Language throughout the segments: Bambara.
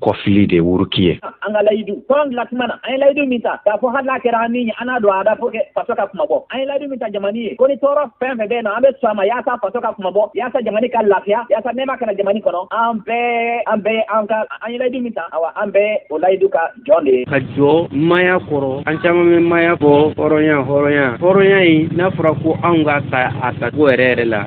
kɔfili de wuruki ye an ka layidu tɔn dilan tuma na an ye layidu min ta k'a fɔ hali n'a kɛra an ni ye an n'a don a da pour que faso ka kunmabɔ an ye layidu min ta jamani ye ko ni tɔɔrɔ fɛn fɛn bɛ na an bɛ sɔn a ma yaasa faso ka kunmabɔ yaasa jamani ka lafiya yaasa nɛɛma ka na jamani kɔnɔ an bɛɛ an bɛɛ an ka an ye layidu min ta awa an bɛɛ o layidu ka jɔn de ye ka jɔ maya kɔrɔ an caman bɛ maya fɔ hɔrɔnya hɔrɔnya hɔrɔnya in n'a fɔra ko anw k'a ta a tacogo yɛrɛ yɛrɛ la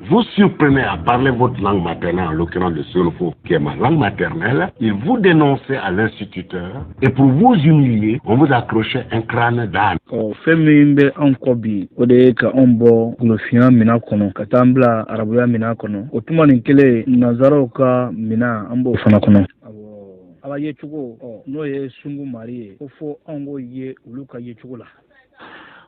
Vous surprenait à parler votre langue maternelle, en l'occurrence le sénoufo, qui est ma langue maternelle, il vous dénonçait à l'instituteur, et pour vous humilier, on vous accrochait un crâne d'âne. Ɔ fɛn min bɛ anw kɔ bi o de ye ka anw bɔ golofinya minan kɔnɔ ka taa an bila arabuya minan kɔnɔ o tuma nin kelen nanzaraw ka minan an b'o fana kɔnɔ a ba yecogo n'o ye sungu mari ye ko fo anw k'o ye olu ka yecogo la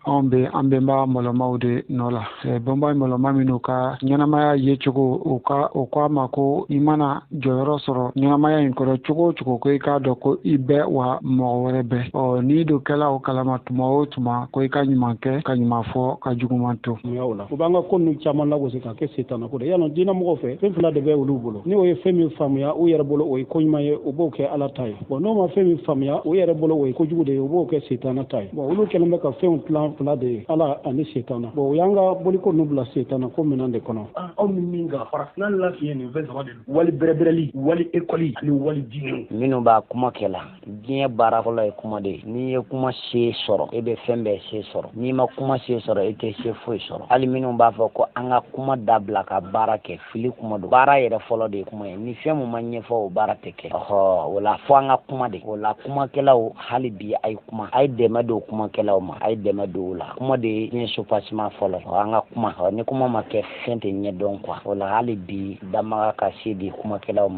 anw bɛ an bɛnba mɔlɔmaw de nɔ la bɛnba mɔlɔma minnu ka ɲɛnamaya ye cogo u ko an ma ko i mana jɔyɔrɔ sɔrɔ ɲɛnamaya in kɔnɔ cogo o cogo ko i k'a dɔn ko i bɛ wa mɔgɔ wɛrɛ bɛ ɔ n'i don kɛla o kalama tuma o tuma ko i ka ɲuman kɛ ka ɲuman fɔ ka juguman to yen u b'an ka ko ninnu caman lagosi k'a kɛ setanako de yalɔ diinɛ mɔgɔw fɛ fɛn fila de bɛ olu bolo ni u ye fɛn min faamuya u yɛrɛ bolo o ye ko ɲuman ye u b'o kɛ ala ta ye bɔn n'u ma fɛn min faamuya u yɛrɛ bolo o ye kojugu de ye u b'o kɛ setana ta ye bɔn olu kɛlen bɛ ka fɛnw tilan fila de ye ala ani setana bɔn u y'an ka boliko nu bila setana ko minan de kɔnɔ aw ni min ka farafina lafiɲɛ nin fɛn saba de don wali bɛrɛbɛrɛli wali ekɔli ani wali diinɛw minnu b'a kuma kɛ la diɲɛ baara fɔlɔ ye kuma de ye n'i ye kuma se sɔrɔ e bɛ fɛn bɛɛ se sɔrɔ n'i ma kuma se sɔrɔ e tɛ se foyi sɔrɔ hali minnu b'a fɔ ko an ka kuma dabila ka baara kɛ fili kuma don baara yɛrɛ fɔlɔ de ye kuma ye ni fɛn mun ma ɲɛfɔ o baara tɛ kɛ ɔhɔ o la fo an ka kuma de o la kumakɛlaw hali bi a ye kuma a ye dɛmɛ don kumakɛlaw ma a ye dɛmɛ don o la kuma de ye diɲɛ soubassement fɔlɔ ye an ka kuma ni kuma ma kɛ fɛn tɛ ɲɛdɔn quoi o la hali bi damaga ka se di kumakɛlaw ma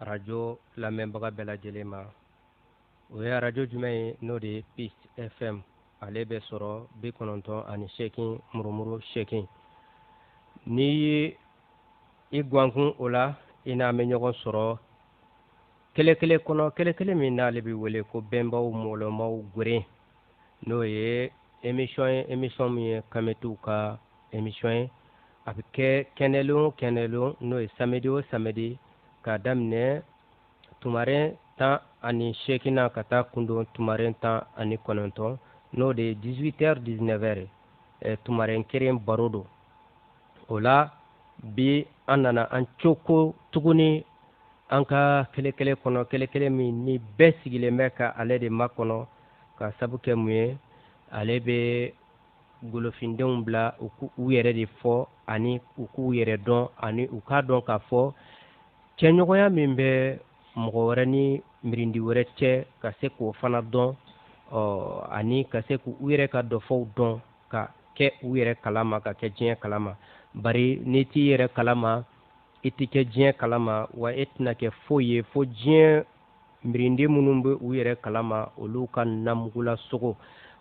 arajo lamɛnbaga bɛɛ lajɛlen ma o ye arajo jumɛn ye n'o de ye peace fm ale bɛ sɔrɔ bi kɔnɔntɔn ani seegin murumuru seegin n'i ye i gwankun o la i n'an bɛ ɲɔgɔn sɔrɔ kelekele kɔnɔ kelekele min n'ale bɛ wele ko bɛnbaw mɔlɔmaw geren n'o ye emission ye emission min ye kamitiw ka emission ye a bɛ kɛ kɛnɛlon o kɛnɛlon n'o ye samedi o samedi k'a daminɛ tumaren tan ani seegin na ka taa kundon tumaren tan ani kɔnɔntɔn n'o de ye 18 heures 19 heures eh, tumaren keren baro don o la bi an nana an coko tuguni an ka kelekele kɔnɔ kelekele min ni bɛɛ sigilen bɛ ka ale de makɔnɔ ka sabu kɛ mun ye ale bɛ golofindenw bila u k'u yɛrɛ de fɔ ani u k'u yɛrɛ dɔn ani u k'a dɔn k'a fɔ cɛɲɔgɔnya min bɛ mɔgɔ wɛrɛ ni mirindi wɛrɛ cɛ ka se k'o fana dɔn ani ka se k'u yɛrɛ ka dɔfɔw dɔn ka kɛ u yɛrɛ kalama ka kɛ diɲɛ kalama bari n'i t'i yɛrɛ kalama i tɛ kɛ diɲɛ kalama wa e tɛna kɛ foyi ye fo diɲɛ mirindi minnu bɛ u yɛrɛ kalama olu ka namugula sogo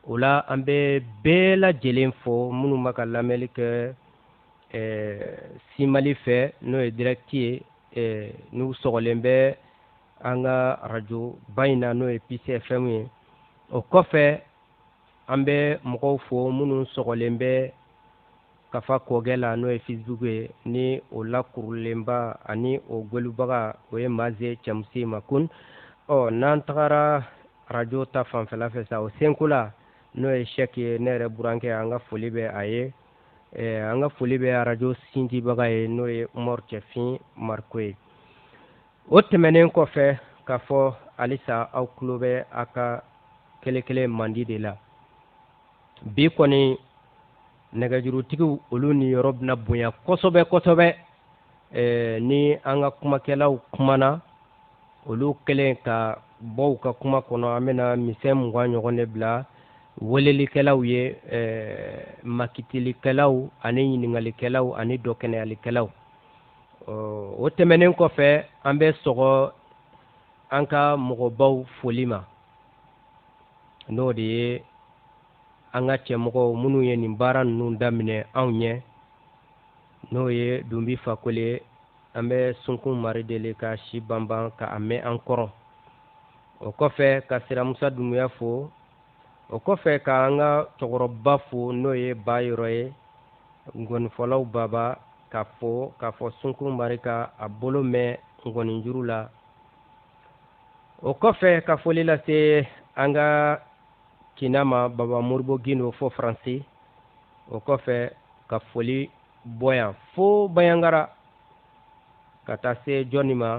o la an bɛ bɛɛ lajɛlen fo minnu bɛ ka lamɛnli kɛ simali fɛ n'o ye direct ye n'u sɔgɔlen bɛ an ka arajo ba in na n'o ye peace fm ye o kɔfɛ an bɛ mɔgɔw fo minnu sɔgɔlen bɛ kafa kɔgɛ la n'o ye facebook ye ni o lakurulenba ani o gwɛlubaga o ye maze cɛmisɛn ma ko ɔ n'an tagara arajo ta fanfɛla fɛ sa o senko la n'o ye sɛki ye ne yɛrɛ burankɛ an ka foli bɛ a ye an ka foli bɛ arajo sindibaga ye n'o ye umaru cɛfin mariko ye o tɛmɛnen kɔfɛ k'a fɔ halisa aw tulo bɛ a ka kelenkelen mandi de la bi kɔni nɛgɛjurutigiw olu niyɔrɔ bɛna bonya kosɛbɛ kosɛbɛ eh, ni an ka kumakɛlaw kumana olu kɛlen ka bɔ u ka kuma kɔnɔ an bɛna misɛn mugan ɲɔgɔn de bila welelikɛlaw ye eh, makitilikɛlaw ani ɲininkalikɛlaw ani dɔkɛnɛyalikɛlaw o tɛmɛnen kɔfɛ an bɛ sɔgɔ an ka mɔgɔbaw foli ma n'o de ye an ka cɛmɔgɔw minnu ye nin baara ninnu daminɛ anw ɲɛ n'o ye dunbi fakoli an bɛ sunkun mari deli ka si banban ka a mɛn an kɔrɔ o kɔfɛ ka siramusa dunbuya fo o kɔfɛ ka an ka cɛkɔrɔba fo n'o ye bayɔrɔ ye nkɔnifɔlaw baba k'a fo k'a fɔ sunkun mari ka a bolo mɛn nkɔninjuru la o kɔfɛ ka foli lase an ka kina ma baba moribo gindo fo faransi o kɔfɛ ka foli bɔ yan fo bayangara ka taa se jɔni ma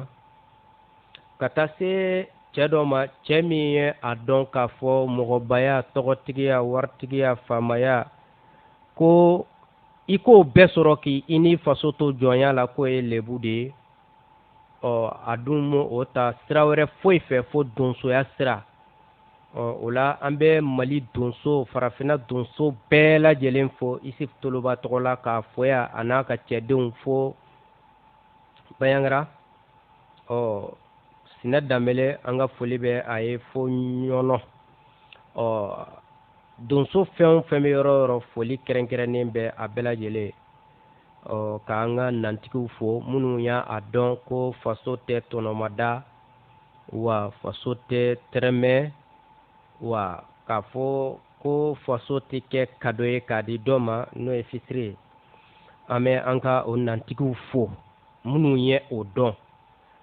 ka taa se cɛ dɔ ma cɛ min ye a dɔn k'a fɔ mɔgɔbaya tɔgɔtigiya waritigiya faamaya ko i k'o bɛɛ sɔrɔ k'i ni faso to jɔnya la k'o ye lebu de ye ɔ a dun m'o ta sira wɛrɛ foyi fɛ fo donsoya sira ɔ o la an bɛ mali donso farafinna donso bɛɛ lajɛlen fo isif toloba tɔgɔ la k'a fo yan a n'a ka cɛdenw fo bayangara ɔ sinɛ danbɛlɛ an ka foli bɛ a ye fo ɲɔnɔ ɔ donso fɛn o fɛn bɛ yɔrɔ o yɔrɔ foli kɛrɛnkɛrɛnnen bɛ a bɛɛ lajɛlen ɔ k'an ka nantigiw fo minnu y'a dɔn ko faso tɛ tɔnɔmada wa faso tɛ tɛrɛmɛ wa k'a fɔ ko faso tɛ kɛ kado ye k'a di dɔ ma n'o ye fitiri ye an bɛ an ka o nantigiw fo minnu ye o dɔn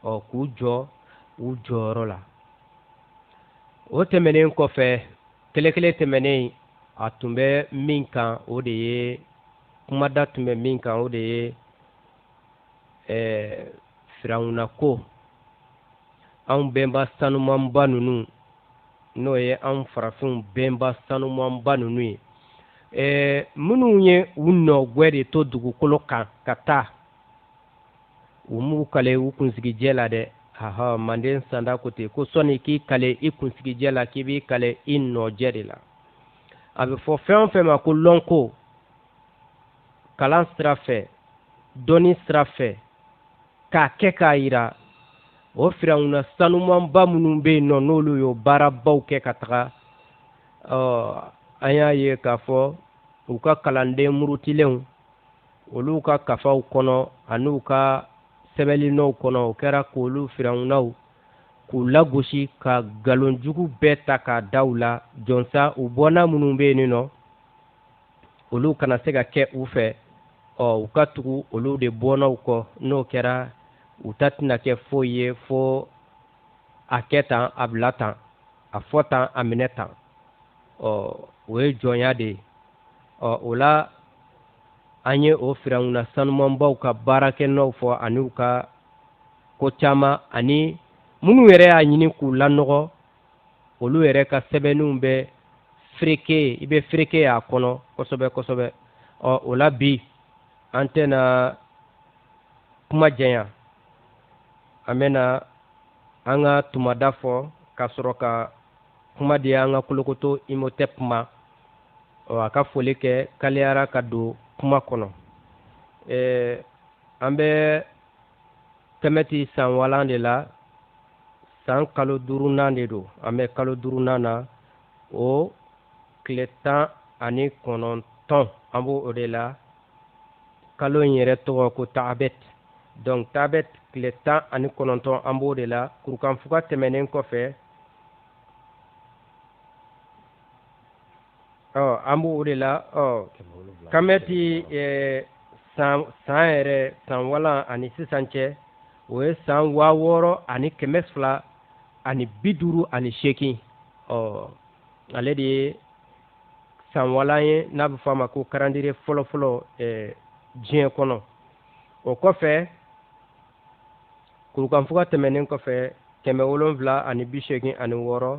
ɔ k'u jɔ u jɔyɔrɔ la o tɛmɛnen kɔfɛ kɛlɛkɛlɛ tɛmɛnen a tun bɛ min kan o de ye kumada tun bɛ min kan o de ye ɛɛ firawuna ko anw bɛnba sanumanba ninnu n'o ye anw farafinw bɛnba sanumanba ninnu ye ɛɛ minnu ye u nɔgwɛ de to dugukolo kan ka taa u m'u kale u kunsigijɛ la dɛ haha manden sanda ko ten ko sɔni k'i kale i kunsigijɛ la k'i b'i kale i nɔjɛ de la a bɛ fɔ fɛn o fɛn ma ko lɔnko kalan sira fɛ dɔnni sira fɛ k'a kɛ k'a yira o firawuna sanumanba minnu bɛ yen nɔ n'olu y'o baarabaw kɛ ka taga an y'a ye k'a fɔ u ka kalanden murutilenw olu ka kafaw kɔnɔ ani u ka sɛbɛnninɔw kɔnɔ o kɛra k'olu firawunaw k'u lagosi ka nkalonjugu bɛɛ ta k'a da u la jɔnsa u bɔnna minnu bɛ yen nɔ olu kana se ka kɛ u fɛ ɔ u ka tugu olu de bɔnnaw kɔ n'o kɛra u ta tɛna kɛ foyi ye fo a kɛ tan a bila tan a fɔ tan a minɛ tan ɔ o ye jɔnya de ye ɔ o la an ye o firawuna sanumanbaw ka baarakɛnɔw fɔ ani u ka ko caman ani minnu yɛrɛ y'a ɲini k'u lanɔgɔ olu yɛrɛ ka sɛbɛnniw bɛ fereke i bɛ fereke y'a kɔnɔ kosɛbɛ kosɛbɛ ɔ o la bi an tɛna kuma janya an bɛna an ka tumada fɔ ka sɔrɔ ka kuma di an ka kolokoto imotɛpu ma ɔ a ka foli kɛ kaliyara ka don kuma kɔnɔ an bɛ kɛmɛti san walan de la san kalo duurunan de don an bɛ kalo duurunan na o tile tan ani kɔnɔntɔn an b'o o de la kalo in yɛrɛ tɔgɔ ko taabɛt donc taabɛt tile tan ani kɔnɔntɔn an b'o de la kurukanfuga tɛmɛnen kɔfɛ ɔ an b'o o de la ɔ kamɛti san san yɛrɛ san walan ani sisan cɛ o ye san waa wɔɔrɔ ani kɛmɛ fila ani bi duuru ani seegin ɔ ale de ye san walan ye n'a bɛ fɔ a ma ko calendrier fɔlɔfɔlɔ diɲɛ kɔnɔ o kɔfɛ kurukanfuga tɛmɛnen kɔfɛ kɛmɛ wolonwula ani bi seegin ani wɔɔrɔ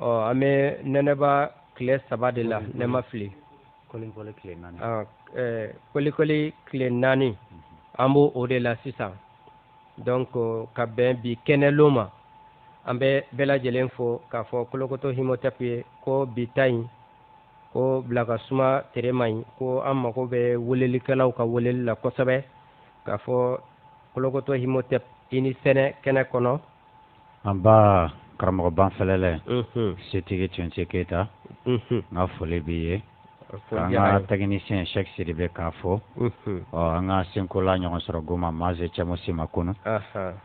ɔ an bɛ nɛnɛba tile saba de la ne ma fili kolikoli tile naani ah, eh, kolikoli tile naani mhm. an b'o o de la sisan donc ka bɛn bi kɛnɛlon ma an bɛ bɛɛ lajɛlen fo k'a fɔ kolokoto Imhotep ye ko bi ta in ko bila ka suma tere man ɲi ko an mago bɛ welelikɛlaw ka weleli la kosɛbɛ k'a fɔ kolokoto Imhotep i ni sɛnɛ kɛnɛ kɔnɔ an ba karamɔgɔ banfɛlɛlɛ setigi tunse keyita n ka foli b'i ye an ka technicien Cheikh Sidibe k'a fɔ ɔ an ka senkola ɲɔgɔn sɔrɔ goma maze cɛmo sima kunu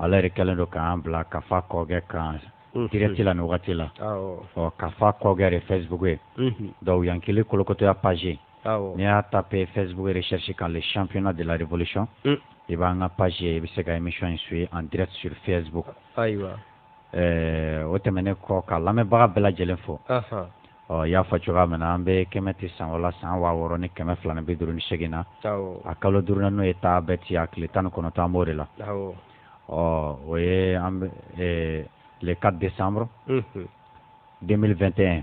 ale yɛrɛ kɛlen don k'an bila kafa kɔkɛ kan direct la ni wagati la ɔ kafa kɔkɛ de Facebook ye donc yankili kolokotoya page n'i y'a ta pe fɛsbugu yɛrɛ sisi k'ale sifina de larepsisɔn i b'an ka pazsi ye i bɛ se ka imi in su ye an dɛrɛ siri fɛbugu ayiwa o tɛmɛn ne kɔ ka lamɛnbaga bɛɛ lajɛlen fɔ ɔ y'a fɔ cogoya min na an bɛ kɛmɛ tɛ san wala san waa wɔɔrɔ ni kɛmɛ fila bɛ duuru ni segin na a kalo duur n'o ye taa bɛɛ ci a tile tan ni kɔnɔ tan anmo de la ɔ o ye an leka de san den2 tɛ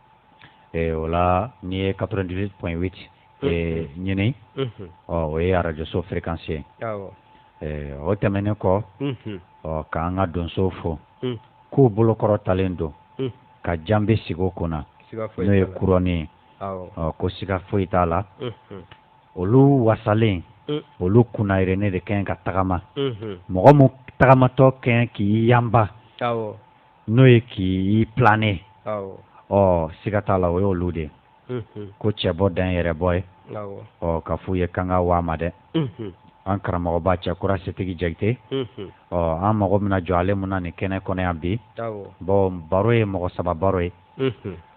o la n'i ye quatre-vingt-dix-huit point huit ɲini ɔ o ye arajoso fréquence ye o tɛmɛnen kɔ ɔ k'an ka donsow fo k'u bolokɔrɔ talen don ka janbe sigi o kunna n'o ye couronne ye ɔ ko siga foyi t'a la olu wasalen olu kunnayɛrɛnen de ka ɲi ka tagama mɔgɔ min tagamatɔ ka ɲi k'i yanba n'o ye k'i planer ɔ siga t'a la o y'olu de ko cɛ bɔ dan yɛrɛ bɔ ye ɔ ka f'u ye k'an ka waa ma dɛ an karamɔgɔba Cɛkura setigi jakite ɔ an mago bɛna jɔ ale min na nin kɛnɛ kɔnɔ yan bi bon baro ye mɔgɔ saba baro ye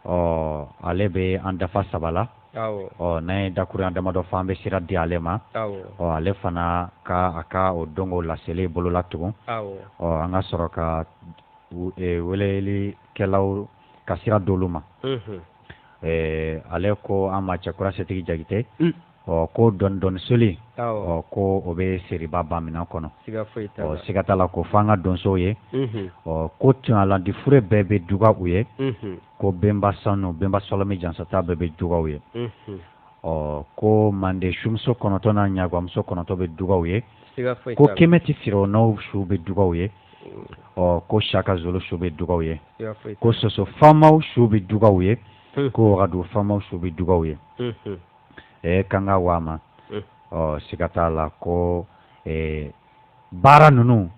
ɔ ale bɛ an dafa saba la ɔ n'a ye dakuruɲa damadɔ fɔ an bɛ sira di ale ma ɔ ale fana ka a ka o dɔnko laseli bolola tugun ɔ an ka sɔrɔ ka welelikɛlaw ka sira d'olu ma ale ko an ma cɛkura setigi jakite ɔ ko dɔndɔni soli ɔ ko o bɛ seriba bamina kɔnɔ ɔ siga t'a la ko fo an ka donsow ye ɔ ko tulalandi fure bɛɛ bɛ dugaw ye ko benba sanu benba sɔlɔmi jansata bɛɛ bɛ dugaw ye ɔ ko manden sumuso kɔnɔntɔn n'a ɲagamuso kɔnɔntɔn bɛ dugaw ye ko kɛmɛti firawunaw su bɛ dugaw ye ɔ ko saka zulu su bɛ dugaw ye ko soso faamaw su bɛ dugaw ye ko wagadu faama su bɛ dugaw ye eh, kanga waa ma mm. ɔ siga t'a la ko eh, baara ninnu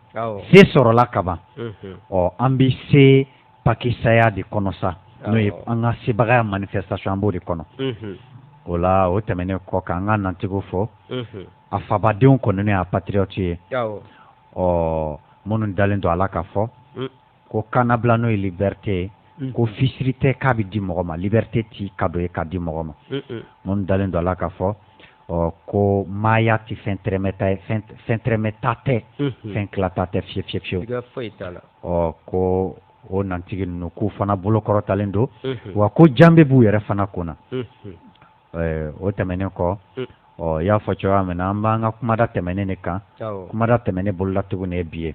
se sɔrɔla kaban mm-hmm. ɔ an bɛ se pakisaya de kɔnɔ sa n'o ye an ka sebagaya manifestation an b'o de kɔnɔ mm-hmm. o la o tɛmɛnen kɔ k'an ka nantigiw fo mm-hmm. a fabadenw kɔni n'o y'a patriote ye ɔ minnu dalen don a la k'a fɔ mm. ko kanabila n'o ye liberté ye mm. ko fisiri tɛ k'a bɛ di mɔgɔ ma liberté tɛ cadeau ye k'a di mɔgɔ ma minnu dalen don a la k'a fɔ ɔ ko maaya tɛ fɛn fɛn tɛrɛmɛta tɛ fɛn tilata tɛ fi fi fiyewu ɔ ko o nantigi ninnu k'u fana bolokɔrɔtalen don wa ko janbe b'u yɛrɛ fana kunna o tɛmɛnen kɔ ɔ y'a fɔ cogoya min na an b'an ka kumada tɛmɛnen de kan kumada tɛmɛnen bolola tuguni de bi ye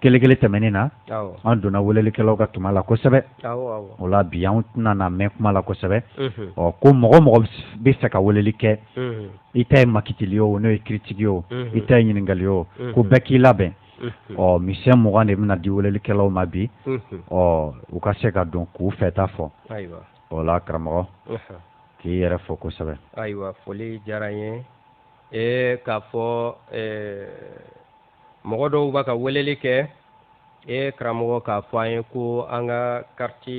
kelekele tɛmɛnen na an donna welelikɛlaw ka tuma la kosɛbɛ o la bi an tɛna mɛn kuma la kosɛbɛ ɔ ko mɔgɔ o mɔgɔ bɛ fɛ ka weleli kɛ i ta ye makitili o n'o ye kiritiki o i ta ye ɲininkali o ko bɛɛ k'i labɛn ɔ misɛn mugan de bɛna di welelikɛlaw ma bi ɔ u ka se ka don k'u fɛta fɔ o la karamɔgɔ k'i yɛrɛ fo kosɛbɛ ayiwa foli diyara n ye k'a fɔ mɔgɔ dɔw bɛ ka weleli kɛ e karamɔgɔ k'a fɔ an ye ko an ka kariti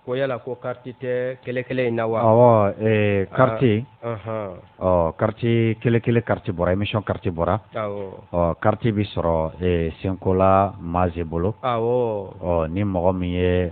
ko yala ko kariti tɛ kelekele in na wa ɔ kariti ɔ kariti kelekele kariti bɔra émission kariti bɔra ɔ kariti bɛ sɔrɔ senkola maase bolo ɔ ni mɔgɔ min ye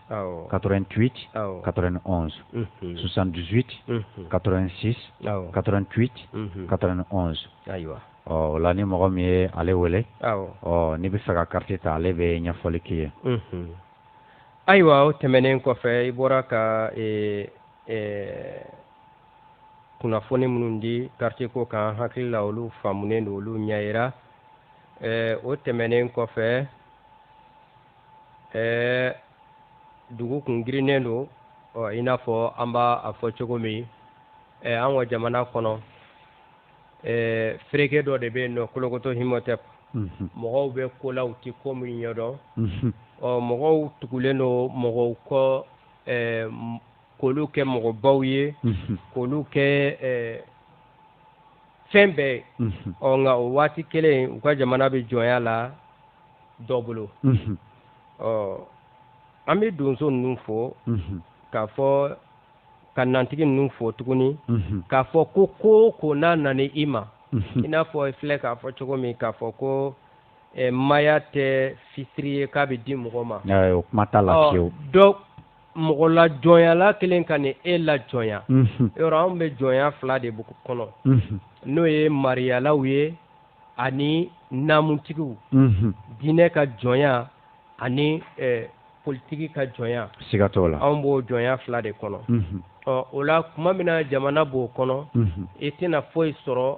88 91 78 86 88 91 ayiwa ɔ o la ni mɔgɔ min ye ale wele ɔ n'i bɛ fɛ ka kariti ta ale bɛ ɲɛfɔli k'i ye ayiwa o tɛmɛnen kɔfɛ i bɔra ka e, e, kunnafoni minnu di kariti ko kan hakili la olu faamunen don olu ɲɛyira e, o tɛmɛnen kɔfɛ ɛɛ dugu kun girinnen don ɔ i n'a fɔ an b'a a fɔ cogo min ɛɛ an ka jamana kɔnɔ ɛɛ fereke dɔ de bɛ yen nɔ kolokoto Imhotep mhm. mɔgɔw bɛ ko la u tɛ ko min ɲɛdɔn mhm. ɔ mɔgɔw tugulen don mɔgɔw kɔ ɛɛ k'olu kɛ mɔgɔbaw ye mhm. k'olu kɛ ɛɛ fɛn bɛɛ ye ɔ nka o waati kelen u ka jamana bɛ jɔnya la. dɔ bolo ɔ an bɛ donso ninnu fo k'a fɔ ka nantigi ninnu fo tuguni k'a fɔ ko ko ko n'a nana i ma i n'a fɔ filɛ k'a fɔ cogo min k'a fɔ ko maya tɛ fisiri ye k'a bɛ di mɔgɔ ma kuma t'a la dɔ mɔgɔ la jɔnyala kelen ka nin e la jɔnya yɔrɔ anw bɛ jɔnya fila de kɔnɔ n'o ye mariyalaw ye ani naamutigiw diinɛ ka jɔnya ani politiki ka jɔnya siga t'o la anw b'o jɔnya fila de kɔnɔ ɔ o la kuma min na jamana b'o kɔnɔ i tɛna foyi sɔrɔ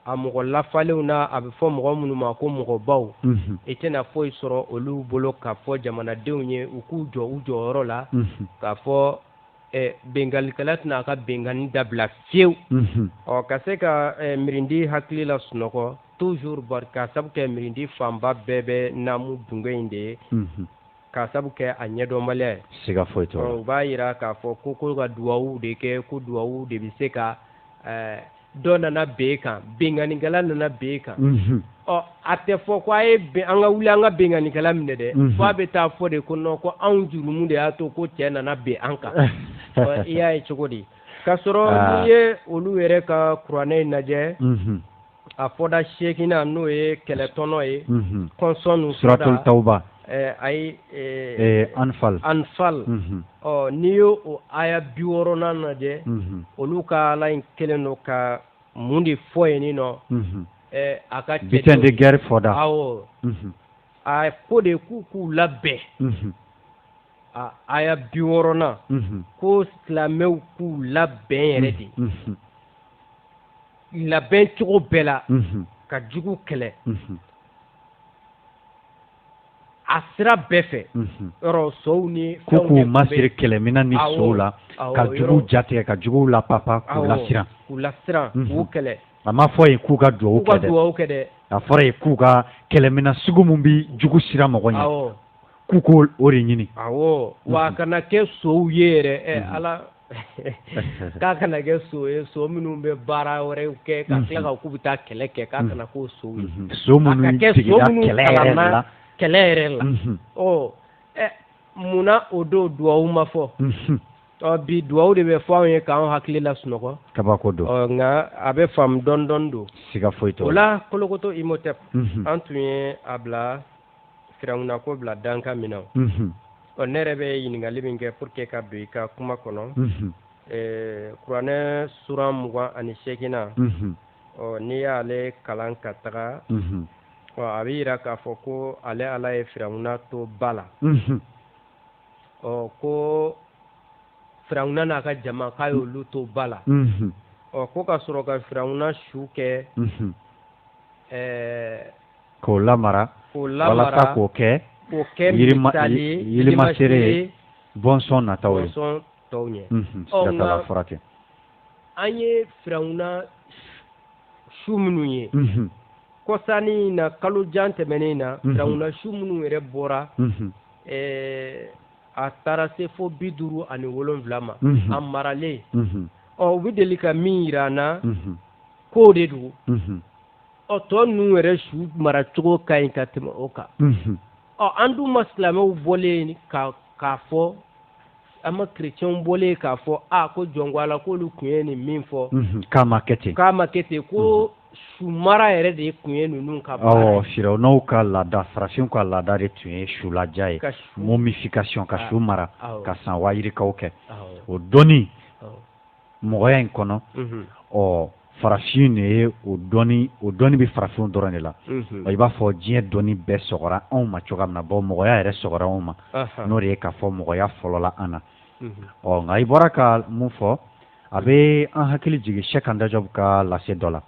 a mɔgɔ lafalenw na a bɛ fɔ mɔgɔ minnu ma ko mɔgɔbaw i tɛna foyi sɔrɔ olu bolo k'a fɔ jamanadenw ye u k'u jɔ u jɔyɔrɔ la k'a fɔ binkalikɛla tɛna a ka binkanni dabila fiyewu ɔ ka se ka mirindi hakili lasunɔgɔ toujours k'a sabu kɛ mirindi fanba bɛɛ bɛ naamu dunge in de ye k'a sabu kɛ a ɲɛdɔnbaliya ye siga foyi t'o la u b'a yira k'a fɔ ko ko ka duwawu de kɛ ko duwawu de bɛ se ka dɔ nana bin kan binkannikɛla nana bin kan ɔ a tɛ fɔ ko a ye an ka wuli an ka binkannikɛla minɛ dɛ fo a bɛ taa fɔ de ko non ko anw jurumu de y'a to ko cɛ nana bin an kan i y'a ye cogo di k'a sɔrɔ n'i ye olu yɛrɛ ka kuranɛ in lajɛ a fɔda seginnan n'o ye kɛlɛtɔnɔ ye kɔnsɔn suratu taw Eh, ayi eh, eh, anfal anfal mhm. ɔ n'i y'o o aya bi wɔɔrɔnan lajɛ mhm. olu ka ala in kelen don ka mun de fɔ yen ni nɔ mhm. a ka butin de guerre fɔda awɔ a ko de k'u k'u labɛn a aya bi wɔɔrɔnan ko silamɛw k'u labɛn yɛrɛ de labɛn cogo bɛɛ la ka jugu kɛlɛ. a sira bɛɛ fɛ yɔrɔ sow ni ko k'u masiri kɛlɛmina ni sow la ka juguw jatigɛ ka juguw lapapa k'u lasiran k'u lasiran k'u kɛlɛ a ma fɔ yen k'u ka duwawu kɛ dɛ duwawu kɛ dɛ a fɔra yen k'u ka kɛlɛmina sugu min bi jugu siran mɔgɔ ɲɛ k'u k'o de ɲini awɔ wa a kana kɛ sow ye yɛrɛ ɛ ala k'a kana kɛ so ye so minnu bɛ baara wɛrɛw kɛ ka mhm. tila ka k'u bɛ taa kɛlɛ kɛ k'a kana k'o so ye mhm. so minnu sigida kɛlɛ yɛrɛ la kɛlɛ yɛrɛ la mhm. ɔ ɛ munna o don duwawu ma fɔ ɔ bi duwawu de bɛ fɔ anw ye k'an hakili lasunɔgɔ kabako don ɔ nka a bɛ faamu dɔɔni dɔɔni don siga foyi t'o la o la kolokoto imhotep an tun ye a bila firawuna ko bila dankan min na ɔ ne yɛrɛ bɛ ɲininkali min kɛ pour que ka don i ka kuma kɔnɔ kuranɛ suran mugan ani seegin na ɔ n'i y'ale kalan ka taga ɔ a bɛ yira k'a fɔ ko ale ala ye firawuna to ba la ɔ ko firawuna n'a ka jama k'a y'olu to ba la ɔ ko ka sɔrɔ ka firawuna su kɛ k'o lamara k'o lamara walasa k'o kɛ k'o kɛ misali ye yirimasere ye bɔnsɔn nataw ye bɔnsɔn tɔw ɲɛ mhm, siga t'a la furakɛ an ye firawuna su minnu ye mhm. kɔsa in na kalo jan tɛmɛnen na mhm. firawuna su minnu yɛrɛ bɔra eh, a taara se fo bi duuru ani wolonwula ma a maralen ɔ u bɛ deli ka min yira an na k'o de don ɔ tɔ ninnu yɛrɛ su maracogo ka ɲi ka tɛmɛ o kan ɔ an dun ma silamɛw bɔlen ye k'a fɔ an ma chrétiens bɔlen ye k'a fɔ a ko jɔn ko ala k'olu tun ye nin min fɔ k'a ma kɛ ten k'a ma kɛ ten ko su mara yɛrɛ de tun ye ninnu ka baara firawunaw ka laada farafinw ka laada de tun ye sulaja ye momification ka su mara ka san waa yirikaw kɛ o dɔnni mɔgɔya in kɔnɔ ɔ farafin de ye o dɔnni o dɔnni bɛ farafinw dɔrɔn de la i b'a fɔ diɲɛ dɔnni bɛɛ sɔgɔra anw ma cogoya min na bɔ mɔgɔya yɛrɛ sɔgɔra anw ma n'o de ye k'a fɔ mɔgɔya fɔlɔla an na ɔ nka i bɔra ka mun fɔ a bɛ an hakili jigin cheikh anta diop ka lase dɔ la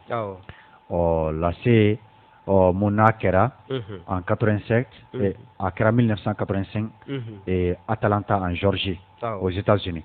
ɔ lase ɔ mun n'a kɛra en quatre-vingt-cinq a kɛra mille neuf cent quatre-vingt-cinq atlanta en géorgie aux états-unis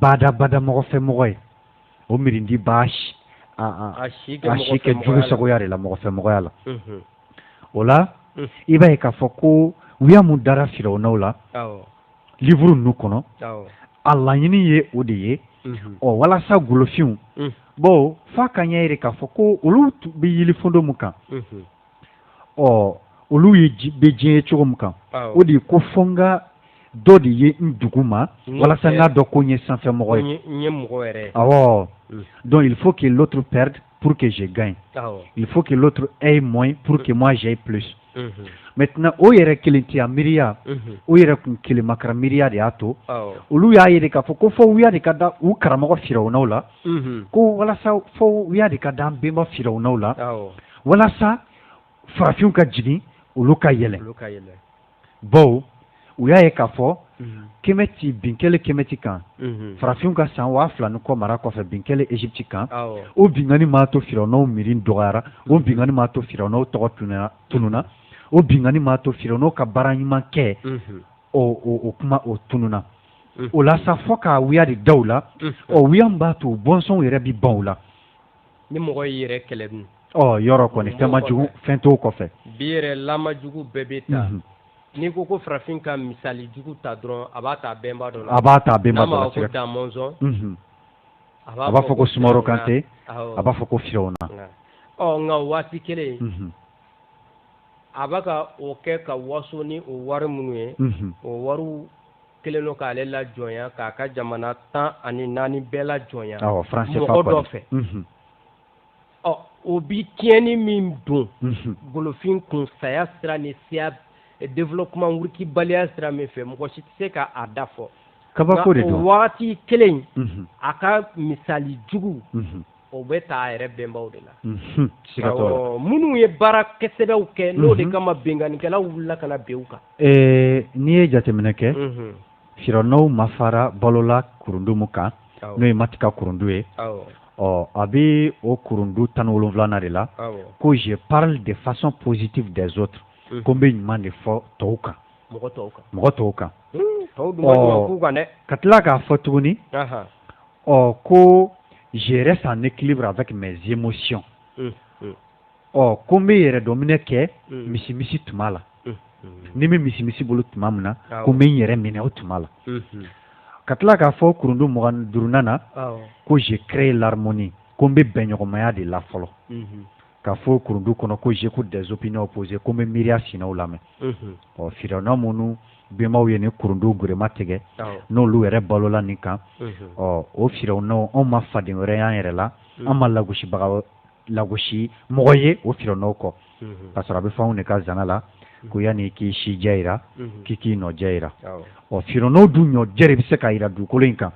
badabada mɔgɔfɛmɔgɔ ye o miiridi b'a si kɛ jugu sagoya de la mɔgɔfɛmɔgɔya la o la i b'a ye k'a fɔ ko wuya minnu dara firawunaw la livre ninnu kɔnɔ a laɲini ye o de ye ɔ walasa golofinw bɔ f'a ka ɲɛ jira k'a fɔ ko olu bɛ yilifondo min kan ɔ olu ye bɛ diɲɛ ye cogo min kan o de ye ko fo n ka dɔ de ye n duguma walasa n k'a dɔn ko n ye sanfɛmɔgɔ ye n ye mɔgɔ yɛrɛ awɔ donc il faut que l'autre perde pour que je gagne il faut que l'autre ait moins pour que moi j'aie plus maintenant o yɛrɛ kelentiya miiriya o yɛrɛ kun kelemakara miiriya de y'a to olu y'a ye de k'a fɔ ko fo wuya de ka da u karamɔgɔ firawunaw la ko walasa fo wuya de ka da an bɛnba firawunaw la walasa farafinw ka jigin olu ka yɛlɛ bawo u y'a ye k'a fɔ kɛmɛti bin kɛlen kɛmɛti kan farafinw ka san waa fila ni kɔ mara kɔfɛ bin kɛlen égypte kan o binkanni m'a to firawunaw miiri dɔgɔyara o binkanni m'a to firawunaw tɔgɔ tununna o binkanni m'a to firawunaw ka baara ɲuman kɛ o kuma o tununna o la sa fo ka wuya de da u la o wuya b'a to bɔnsɔnw yɛrɛ bɛ ban u la ni mɔgɔ y'i yɛrɛ kɛlɛ dun ɔ yɔrɔ kɔni fɛnmajugu fɛn t'o kɔfɛ bi yɛrɛ lamajugu bɛɛ bɛ ta n'i ko ko farafin ka misali jugu ta dɔrɔn a b'a ta bɛnba dɔ la a b'a ta bɛnba dɔ la n'a ma fɔ ko damɔnzɔn a b'a fɔ ko sumaworo kante a b'a fɔ ko firawuna ɔ nka waati kelen a b'a ka o kɛ ka waso ni o wari minnu ye o wariw kelen don k'ale lajɔnya k'a ka jamana tan ani naani bɛɛ lajɔnya mɔgɔ dɔ fɛ mhm. ɔ o bi tiɲɛni min don mhm. golofin kun saya sira ni siya eh, développement wurukibaliya sira min fɛ mɔgɔ si tɛ se ka a dan fɔ kabako de don o wagati kelen mhm. a ka misali jugu o bɛ ta a yɛrɛ bɛnbaw de la minnu ye baara kɛsɛbɛw kɛ n'o de kama binkannikɛlaw wulila ka na bin u kan n'i ye jateminɛ kɛ firawunaw ma fara balola kurundu min kan n'o ye mati ka kurundu ye ɔ a bɛ o kurundu tan ni wolonwulanan de la ko je parle de façon positive des autres ko n bɛ ɲuman de fɔ tɔw kan mɔgɔ tɔw kan kan ka tila k'a fɔ tuguni ɔ ko je reste en équilibre avec mes émotions ɔ ko n bɛ yɛrɛ dɔminɛ kɛ misi misi tuma la ni bɛ misi misi bolo tuma min na ko n bɛ n yɛrɛ minɛ o tuma la ka tila k'a fɔ kurundu mugan ni duurunan na ko je crée l'harmonie ko n bɛ bɛnɲɔgɔnmaya de la fɔlɔ ka fɔ kurundu kɔnɔ ko j'écoute des opinions opposées ko n bɛ miiriya sinaw lamɛn ɔ firawuna minnu bɛnbaw ye nin kurundu giriman tigɛ n'olu yɛrɛ balola nin kan ɔ o firawunaw n' an ma faden wɛrɛ y' an yɛrɛ la an ma lagosibaga lagosi mɔgɔ ye o firawuna kɔ ka sɔrɔ an bɛ an faw de ka zana la ko yani i k'i sijɛ jira k'i k'i nɔjɛ jira ɔ firawuna dun nɔjɛ bɛ se ka jira dugukolo in kan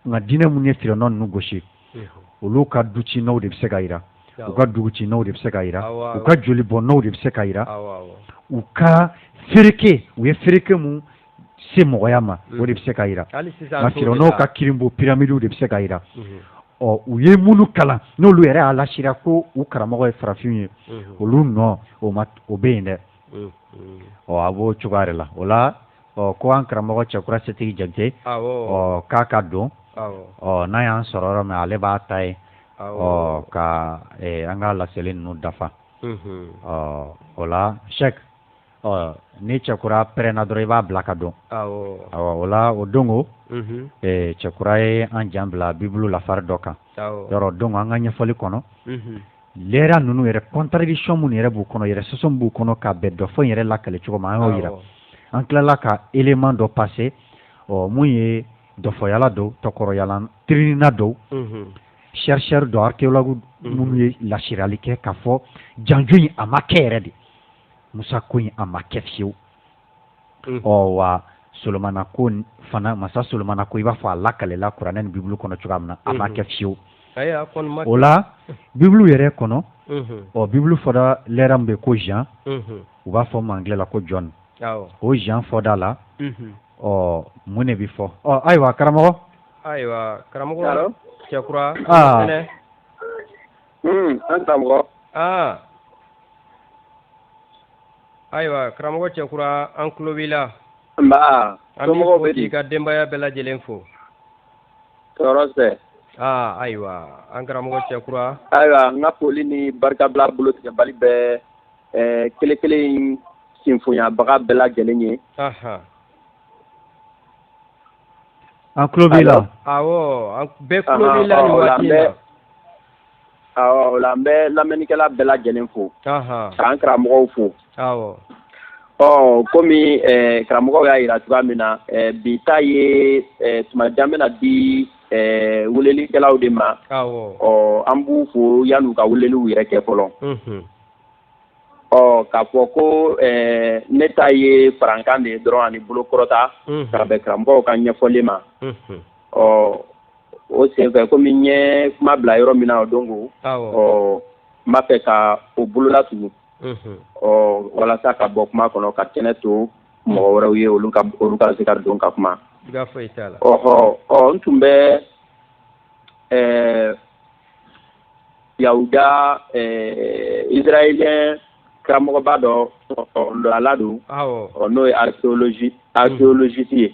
nka diinɛ minnu ye firawuna ninnu lagosi olu ka du ci nɔw de bɛ se ka jira u ka dugu ci nɔw de bɛ se ka jira u ka joli bɔn nɔw de bɛ se ka jira u ka feereke u ye feereke min se mɔgɔya ma o de bɛ se ka jira nka firawuna ka kirinbo piramidiw de bɛ se ka jira ɔ u ye minnu kalan n'olu yɛrɛ y'a lasira ko u karamɔgɔ ye farafinw ye olu nɔ o bɛ yen dɛ mm, mm. ɔ a b'o cogoya de la o la ɔ ko an karamɔgɔ cɛkura setigi jakite ɔ k'a ka don ɔ n'a y'an sɔrɔ yɔrɔ min ale b'a ta yen ɔ ka an ka laseli ninnu dafa mm-hmm. ɔ o la sɛk ɔ ni cɛkura pɛrɛnna dɔrɔn i b'a bila ka don o la o donc mm-hmm. cɛkura ye an jan bila bibulu lafari dɔ kan yɔrɔ donc an ka ɲɛfɔli kɔnɔ lɛra ninnu yɛrɛ contradiction minnu yɛrɛ b'u kɔnɔ yɛrɛ sɔsɔ min b'u kɔnɔ ka bɛn dɔfɔ yɛrɛ lakali cogo ma an y'o jira an tilala ka élément dɔ passer ɔ mun ye dɔfɔyala dɔw tɔkɔrɔyalan tiriɲinina dɔw chercheur dɔw archéologue minnu ye lasirali kɛ ka fɔ janjo in a ma kɛ yɛrɛ de musa ko in a ma kɛ fiyewu Mm. ɔ wa solomana ko fana masa solomana ko i b'a fɔ a lakalela kuranɛ ni bibulu kɔnɔ cogoya min na a ma mm-hmm. kɛ fiyewu o la bibulu yɛrɛ kɔnɔ mm-hmm. ɔ bibulu fɔda lɛra min bɛ ko jean mm-hmm. u b'a fɔ anglais la ko john o jean fɔda la ɔ mun de bɛ fɔ ɔ ayiwa karamɔgɔ ayiwa karamɔgɔ cɛkura ah. fɛnɛ mm, an karamɔgɔ ah. ayiwa karamɔgɔ cɛkura an tulo b'i la nba an b'i fo k'i ka denbaya bɛɛ lajɛlen fo tɔɔrɔ tɛ aa ayiwa an karamɔgɔ cɛkura ayiwa n ka foli ni barikabila bolotigɛbali bɛ eh, kelen kelen sinfonyabaga bɛɛ lajɛlen ye an tulo b'i la awɔ bɛɛ tulo b'i la nin waati in na O la n bɛ lamɛnnikɛla bɛɛ lajɛlen fo k'an karamɔgɔw fo ɔ kɔmi karamɔgɔw y'a jira cogoya min na bi ta ye tuma jan bɛna di welelikɛlaw de ma ɔ an b'u fo yan'u ka weleliw yɛrɛ kɛ fɔlɔ ɔ k'a fɔ ko ne ta ye farankan de dɔrɔn ani bolokɔrɔta ka bɛn karamɔgɔw ka ɲɛfɔlen ma ɔ o senfɛ komi n ye kuma bila yɔrɔ min na donc ɔ n b'a fɛ ka o bolola tugu ɔ walasa ka bɔ kuma kɔnɔ ka kɛnɛ to mɔgɔ wɛrɛw ye olu ka se ka don ka kuma ɔhɔ ɔ n tun bɛ ɛɛ yawuda ɛɛ israɛliyɛn karamɔgɔba dɔ ɔ ɔ don ala don ɔ n'o ye archéologie archéologiste ye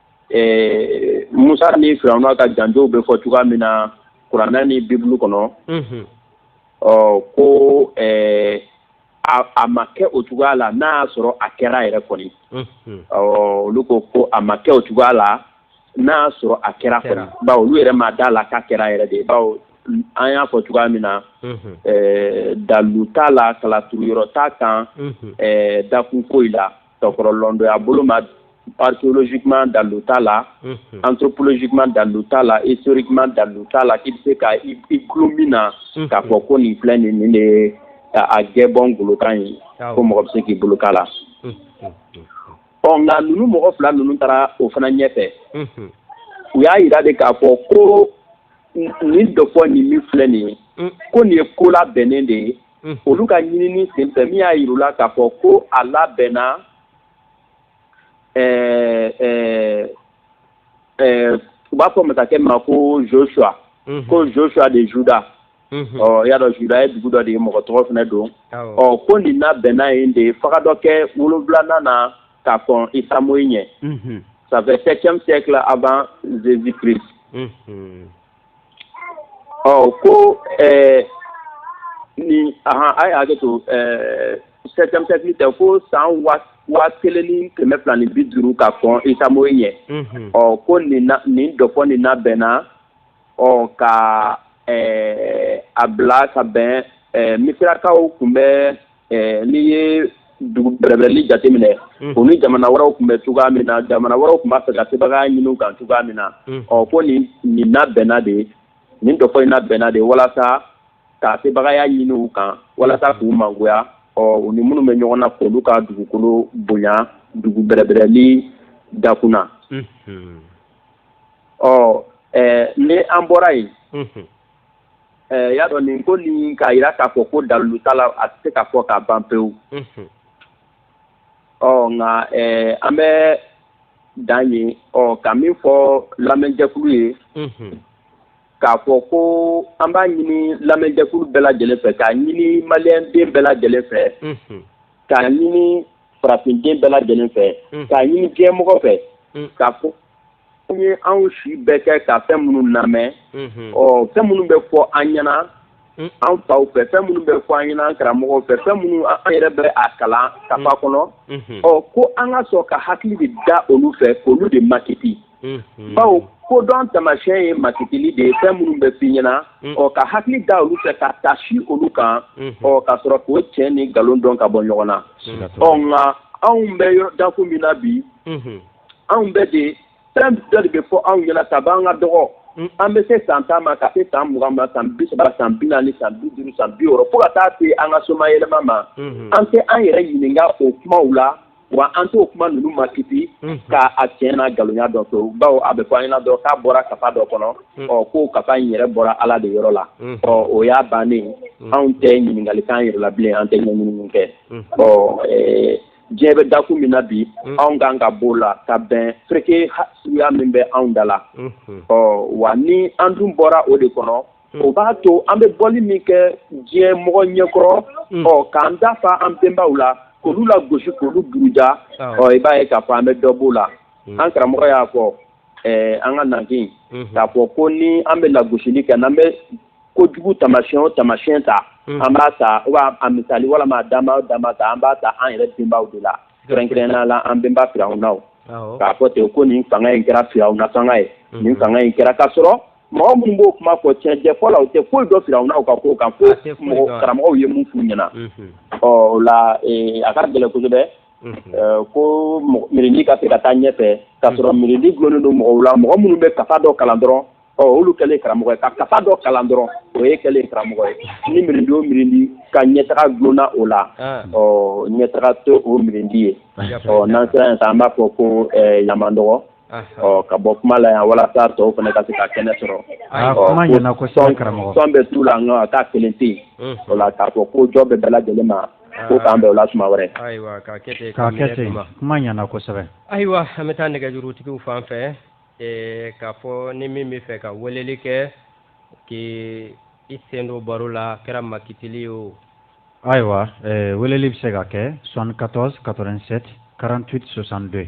ɛɛ Musa ni Firawuna ka janjow bɛ fɔ cogoya min na kurana ni bibulu kɔnɔ, unhun, ɔ ko ɛɛ a ma kɛ o cogoya la n'a y'a sɔrɔ a kɛra yɛrɛ kɔni, unhun, ɔ olu ko ko a ma kɛ o cogoya la n'a y'a sɔrɔ a kɛra kɔni, bawo olu yɛrɛ ma d'a la k'a kɛra yɛrɛ de bawo an y'a fɔ cogoya min na, unhun, ɛɛ dalu t'a la kalaturuyɔrɔ t'a kan, unhun, ɛɛ dakun foyi la sokɔrɔlɔndɔya bolo ma archéologiquement dalu t'a la anthropologiquement dalu t'a la historiquement dalu t'a la k'i bɛ se ka i tulo mina k'a fɔ ko nin filɛ nin nin de ka a jɛ bɔ golokan ye ko mɔgɔ bɛ se k'i bolo d'a la ɔ nka ninnu mɔgɔ fila ninnu taara o fana ɲɛ fɛ u y'a jira de k'a fɔ ko nin dɔfɔ nin min filɛ nin ye ko nin ye ko labɛnnen de ye hmm. olu ka ɲinini senfɛ min y'a yir'u la k'a fɔ ko a labɛnna ɛɛ ɛɛ ɛɛ u b'a fɔ masakɛ ma ko joshua hmm. ko joshua de juda Mm-hmm. ɔ i y'a dɔn juda ye dugu dɔ de ye mɔgɔ tɔgɔ fana don ɔ ko nin labɛnna yen de fagadɔkɛ wolonwulanan na ka kɔn Isa moyi ɲɛ ça fait septième siècle avant jésus christ mm-hmm. ɔ ko ɛɛ nin ahan a ye hakɛ to ɛɛ septième siècle tɛ ko san waa kelen ni kɛmɛ fila ni bi duuru ka kɔn Isa moyi ɲɛ mhm. ɔ ko nin na nin dɔfɔ nin labɛnna ɔ ka ɛɛ a bila ka bɛn ɛɛ misirakaw tun bɛ ɛɛ n'i ye dugubɛrɛbɛrɛli jateminɛ u ni jamana wɛrɛw tun bɛ cogoya min na jamana wɛrɛw tun b'a fɛ ka sebagaya ɲin'u kan cogoya min na ɔ ko nin nin labɛnna de nin dɔfɔ in labɛnna de walasa ka sebagaya ɲini u kan walasa k'u mangoya ɔ u ni minnu bɛ ɲɔgɔn na k'olu ka dugukolo bonya dugubɛrɛbɛrɛli dakun na ɔ ɛɛ ni an bɔra yen Ɛɛ i y'a dɔn nin ko nin k'a jira k'a fɔ ko dalilu t'a la, a tɛ se ka fɔ ka ban pewu, unhun, ɔ nka ɛɛ an bɛ dan yen ɔ ka min fɔ lamɛnjɛkulu ye, unhun, k'a fɔ ko an b'a ɲini lamɛnjɛkulu bɛɛ lajɛlen fɛ, k'a ɲini maliyɛn den bɛɛ lajɛlen fɛ, unhun, k'a ɲini farafinden bɛɛ lajɛlen fɛ k'a ɲini diɲɛmɔgɔ fɛ k'a fɔ an ye anw si bɛɛ kɛ ka fɛn minnu lamɛn ɔ fɛn minnu bɛ fɔ an ɲɛna an faw fɛ fɛn minnu bɛ fɔ an ɲɛna an karamɔgɔw fɛ fɛn minnu an yɛrɛ bɛ a kalan kafa kɔnɔ ɔ ko an ka sɔn ka hakili de da olu fɛ k'olu de makiti bawo kodɔn tamasiyɛn ye makitili de ye fɛn minnu bɛ f'i ɲɛna ɔ ka hakili da olu fɛ ka taasi olu kan ɔ ka sɔrɔ k'o tiɲɛ ni nkalon dɔn ka bɔ ɲɔgɔn na ɔ nka anw bɛ dakun min na bi anw bɛ de fɛn dɔ de bɛ fɔ anw ɲɛna kab'an ka dɔgɔ an bɛ se san tan ma ka se san mugan ma san bi saba san bi naani san bi duuru san bi wɔɔrɔ fo ka taa se an ka somayɛlɛma ma an tɛ an yɛrɛ ɲininka o kumaw la wa an t'o kuma ninnu makiti k'a tiɲɛ n'a nkalonya dɔn to bawo a bɛ fɔ an ɲɛna dɔrɔn k'a bɔra kafa dɔ kɔnɔ ɔ k'o kafa in yɛrɛ bɔra Ala de yɔrɔ la ɔ o y'a bannen ye anw tɛ ɲininkali k'an yɛrɛ la bilen an tɛ ɲɛɲinini kɛ ɔ diɲɛ bɛ dakun min na bi anw kan ka b'o la ka bɛn fereke suguya min bɛ anw da la ɔ wa ni an dun bɔra o de kɔnɔ hmm. o b'a to an bɛ bɔli min kɛ diɲɛ mɔgɔ ɲɛkɔrɔ hmm. ɔ k'an da fa an bɛnbaw la k'olu lagosi k'olu buruja ah. ɔ i b'a ye k'a fɔ an bɛ dɔ b'o la hmm. an karamɔgɔ y'a fɔ ɛɛ an ka nanfin k'a fɔ ko ni an bɛ lagosili kɛ n'an bɛ kojugu tamasiyɛn o tamasiyɛn ta an b'a ta wa a misali walama a dama o dama ta an b'a ta an yɛrɛ bɛnbaw de la kɛrɛnkɛrɛnnenya la an bɛnba firawunaw k'a fɔ ten ko nin fanga in kɛra firawuna fanga ye nin fanga in kɛra k'a sɔrɔ mɔgɔ minnu b'o kuma fɔ tiɲɛ jɛ fɔ la u tɛ foyi dɔn firawunaw ka ko kan fo mɔgɔ karamɔgɔw ye min f'u ɲɛna ɔ o la a ka gɛlɛn kosɛbɛ ko miiridi ka se ka taa ɲɛfɛ ka sɔrɔ miiridi dulonnen don mɔgɔw la mɔgɔ minnu bɛ kafa dɔ kalan dɔrɔn ɔ olu kɛlen karamɔgɔ ye ka kafa dɔ kalan dɔrɔn o ye kɛlen karamɔgɔ ye ni miiridi o miiridi ka ɲɛtaga dulonna o la ɔ ɲɛtaga tɛ o miiridi ye ɔ n'an sera yen sisan an b'a fɔ ko an y'an madɔgɔ ɔ ka bɔ kuma la yan walasa tɔw fana ka se ka kɛnɛ sɔrɔ sɔn bɛ tu la nka a ka kelen tɛ yen o la k'a fɔ ko jɔ bɛ bɛɛ lajɛlen ma ko k'an bɛn o la tuma wɛrɛ ayiwa an bɛ taa nɛgɛjurutigiw fan fɛ k'a fɔ ni min bɛ fɛ ka weleli kɛ k'i sen don baro la kɛra makitili ye o ayiwa weleli bɛ se ka kɛ 74 87 48 62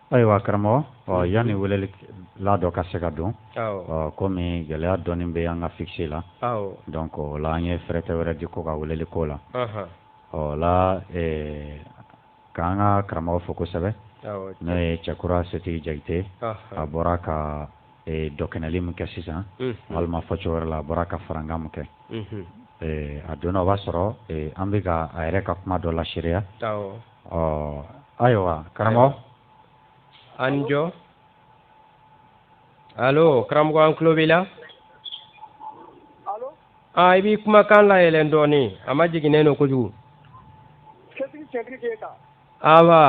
Ayiwa karamɔgɔ ɔ yanni welelila dɔ ka se ka don kɔmi gɛlɛya dɔɔnin bɛ an ka fikisi la dɔnki o la an ye fɛrɛtɛ wɛrɛ di ko ka weleli k'o la ɔ la k'an ka karamɔgɔ fo kosɛbɛ n'o ye cɛkura setigi jakite a bɔra ka dɔkɛnɛli min kɛ sisan walima fɔcogo wɛrɛ la a bɔra ka farankan min kɛ a donna o b'a sɔrɔ an bɛka a yɛrɛ ka kuma dɔ laseereya ɔ ayiwa karamɔgɔ an ni jɔn alo karamɔgɔ an tulo b'i la aa i b'i kumakan layɛlɛn dɔɔnin a majiginnen don kojugu awa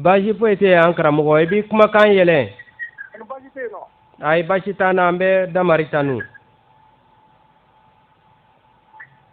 baasi foyi tɛ yen an karamɔgɔ i b'i kumakan yɛlɛn ayi baasi t'an na an bɛ damari tanu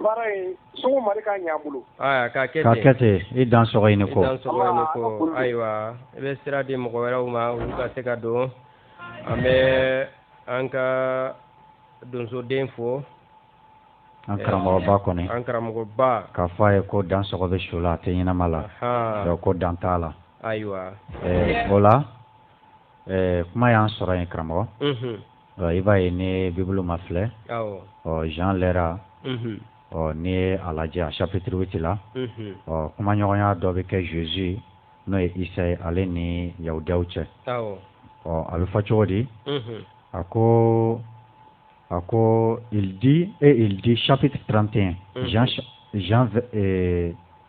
Baara in sugu Mari k'a ɲɛ an bolo. Aya ka kɛ ten. Ka kɛ ten i dan sɔgɔ i ni ko. I dan sɔgɔ i ni ko. Ayiwa i bɛ sira di mɔgɔ wɛrɛw ma olu ka se ka don. An bɛ an ka donsoden fo. An karamɔgɔba kɔni. An karamɔgɔba. K'a fɔ a ye ko dan sɔgɔ bɛ su la a tɛ ɲɛnama la. Ahan. Donc ko dan t'a la. Ayiwa. Ɛɛ o la ɛɛ kuma y'an sɔrɔ yen karamɔgɔ. Unhun. i b'a ye ni bibulu mafilɛ ɔ jean lɛra ɔ n'i ye a lajɛ a chapitre huit la ɔ kumaɲɔgɔnya dɔ bɛ kɛ jésus n'o ye isa ye ale ni yahudiyaw cɛ ɔ a bɛ fɔ cogo di a ko a ko il dit e il dit chapitre trente et un jean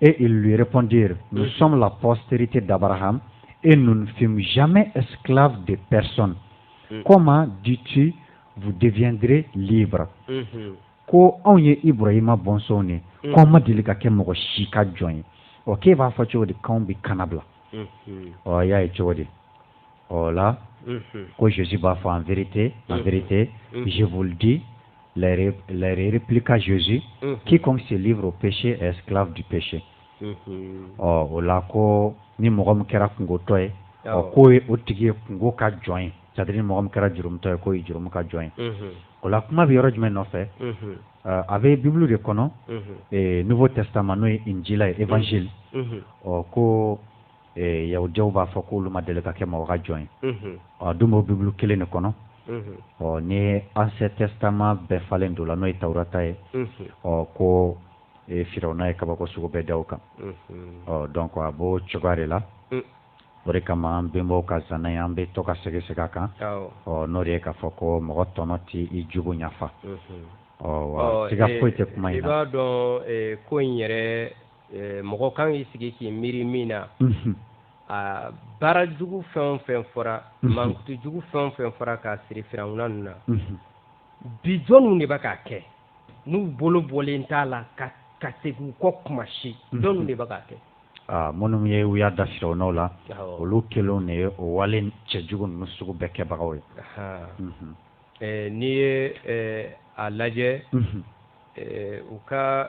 Et ils lui répondirent, nous sommes la postérité d'Abraham et nous ne fûmes jamais esclaves de personne. Mm. Comment dis-tu, vous deviendrez libres mm-hmm. Ko anw ye Ibrahima bɔnsɔnw de mm. k'anw ma deli ka kɛ mɔgɔ si ka jɔn ye. Ɔ k'e b'a fɔ cogo di k'anw bɛ kannabila? Ɔ y'a ye cogo di? o la ko Jésus b'a fɔ en vérité en vérité je vous le dis les les répliqua Jésus quiconque se livre au péché est esclave du péché ɔ o la ko ni mɔgɔ min kɛra kunkotɔ ye ɔ k'o ye o tigi ye kunko ka jɔn ye c'est à dire ni mɔgɔ min kɛra jurumutɔ ye k'o ye jurumu ka jɔn ye o la kuma bɛ yɔrɔ jumɛn nɔfɛ a bɛ bibulu de kɔnɔ nouveau testament n'o ye injila ye évangile ɔ ko yahudiyaw b'a fɔ k'olu ma deli ka kɛ mɔgɔ ka jɔn ye ɔ dun b'o bibulu kelen de kɔnɔ ɔ ni ancien testament bɛɛ falen don la n'o ye tawurata ye ɔ ko firawuna ye kabako sugu bɛɛ da u kan ɔ donc a b'o cogoya de la o de kama an bɛnbaw ka zana ye an bɛ to ka segin segin a kan ɔ n'o de ye k'a fɔ ko mɔgɔ tɔnɔ tɛ i jugu ɲafa ɔ siga foyi tɛ kuma in na i b'a dɔn ko in yɛrɛ mɔgɔ kan k'i sigi k'i miiri min na a baara jugu fɛn fɛn fɔra mankutu jugu fɛn fɛn fɔra k'a siri firawuna ninnu na bi jɔnniw de bɛ k'a kɛ n'u bolo bɔlen t'a la ka segin u kɔ kuma si jɔnniw de bɛ k'a kɛ minnu ye u y'a da firawunaw la olu kelen de ye o wale cɛjugu ninnu sugu bɛɛ kɛbagaw ye n'i ye a lajɛ u ka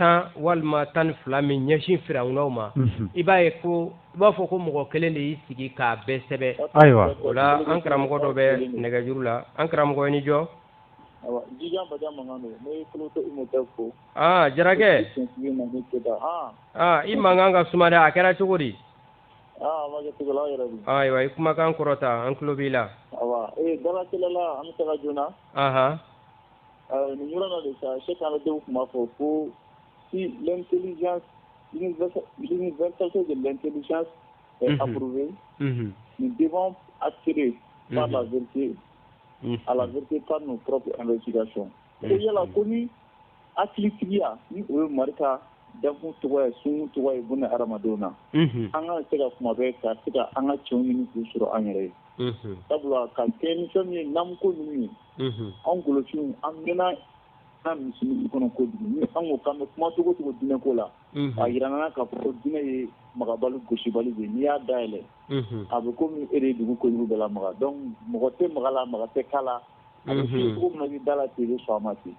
tan walima tan ni fila min ɲɛsin firawunaw ma i b'a ye ko i b'a fɔ ko mɔgɔ kelen de y'i sigi k'a bɛɛ sɛbɛn ayiwa o la an karamɔgɔ dɔ bɛ nɛgɛjuru la an karamɔgɔ i ni jɔ jarakɛ i mankan ka suma dɛ a kɛra cogo di ayiwa i kumakan kɔrɔta an tulo b'i la Nin yɔrɔ la de sa se k'an denw tun b'a fɔ ko si lɛnteli vtase de lɛnteli aurube nin den a siri ba la vte a la vte tan n'o p an bɛ ji sɔn e yala ko ni a hakilitigiya ni o ye mari dakun tɔgɔ ye sun tɔgɔ ye bon hadamadenw na an ka se ka kuma bɛ ka se ka an ka cɛw ɲini k'u sɔrɔ an yɛrɛ ye sabula ka kɛ nisɔn ye namuko ninnu ye anw golofinw an mɛnna an misiri kɔnɔ kojugu ni an ko k'an bɛ kuma cogo cogo diinɛ ko la a yira an na k'a fɔ diinɛ ye magabali gosisibali de n'i y'a dayɛlɛn a bɛ komi e de ye dugu kojugu bɛɛ lamaga donc mɔgɔ tɛ maga a la maga tɛ k'a la a bɛ cogo min na i bɛ da a la ten i bɛ sɔn a ma ten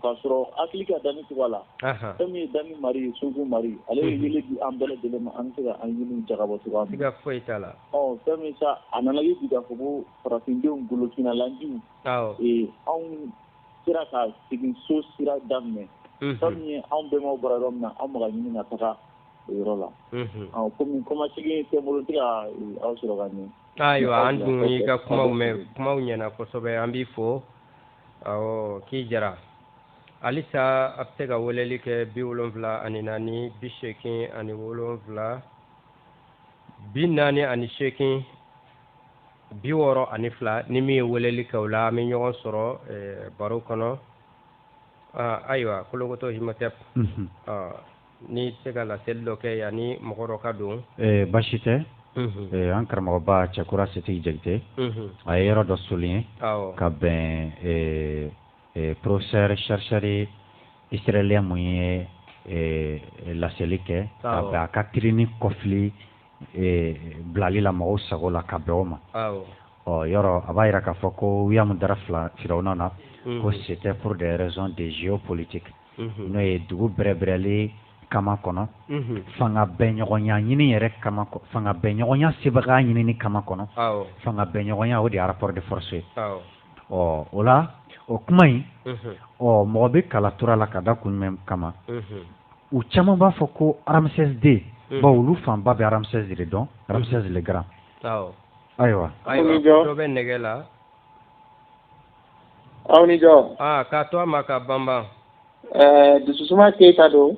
k'a sɔrɔ hakili ka danni cogoya la fɛn min ye danni mari ye sunkun mari ale ye yeelen di an bɛɛ lajɛlen ma an bɛ se ka an ɲini jagabɔ cogoya min na siga foyi t'a la fɛn min sa a nana kɛ bi k'a fɔ ko farafindenw golofinnalandiw anw sera ka segin so sira daminɛ fɛn min ye anw bɛnbaw bɔra yɔrɔ min na an bɛ ka ɲini ka taga o yɔrɔ la komi kɔmasegin tɛ n bolo n tɛ ka aw sɔrɔ ka ɲɛ ayiwa an dun y'i ka kumaw mɛn kumaw ɲɛna kosɛbɛ an b'i fo awɔ k'i jara halisa a bɛ se ka weleli kɛ bi wolonfila ani naani bi seegin ani wolonfila bi naani ani seegin bi wɔɔrɔ ani fila ni min ye weleli kɛ o la an bɛ ɲɔgɔn sɔrɔ eh, baro kɔnɔ ah, ayiwa kolokoto Imhotep n tɛ se ka laseli dɔ kɛ yanni mɔgɔ dɔ ka don eh, basi tɛ mhm. eh, an karamɔgɔba cɛkura setigi jakite mhm. a ye yɔrɔ dɔ souligner ka bɛn eh, professeur chercheur israélien min ye laseli kɛ ka bɛn a ka kirini kɔfili bilali la mɔgɔw sago la ka bɛn o ma ɔ yɔrɔ a b'a yira k'a fɔ ko wuya min dara firawuna na ko mhm. c'était pour des raisons de géopolitique n'o ye dugu bɛrɛbɛrɛli kama kɔnɔ fanga bɛɲɔgɔnya ɲini yɛrɛ kama fanga bɛɲɔgɔnya sebaga ɲinini kama kɔnɔ fanga bɛɲɔgɔnya o de ye rapport de force ye ɔ o la o kuma in ɔ mɔgɔ bɛ kala tora la ka da kun jumɛn kama u caman b'a fɔ ko Ramsès deux bawo olu fanba bɛ Ramsès de dɔn Ramsès le Grand ayiwa dɔ bɛ nɛgɛ la Aw ni jɔ aa k'a to a ma ka banba dususuma keyita don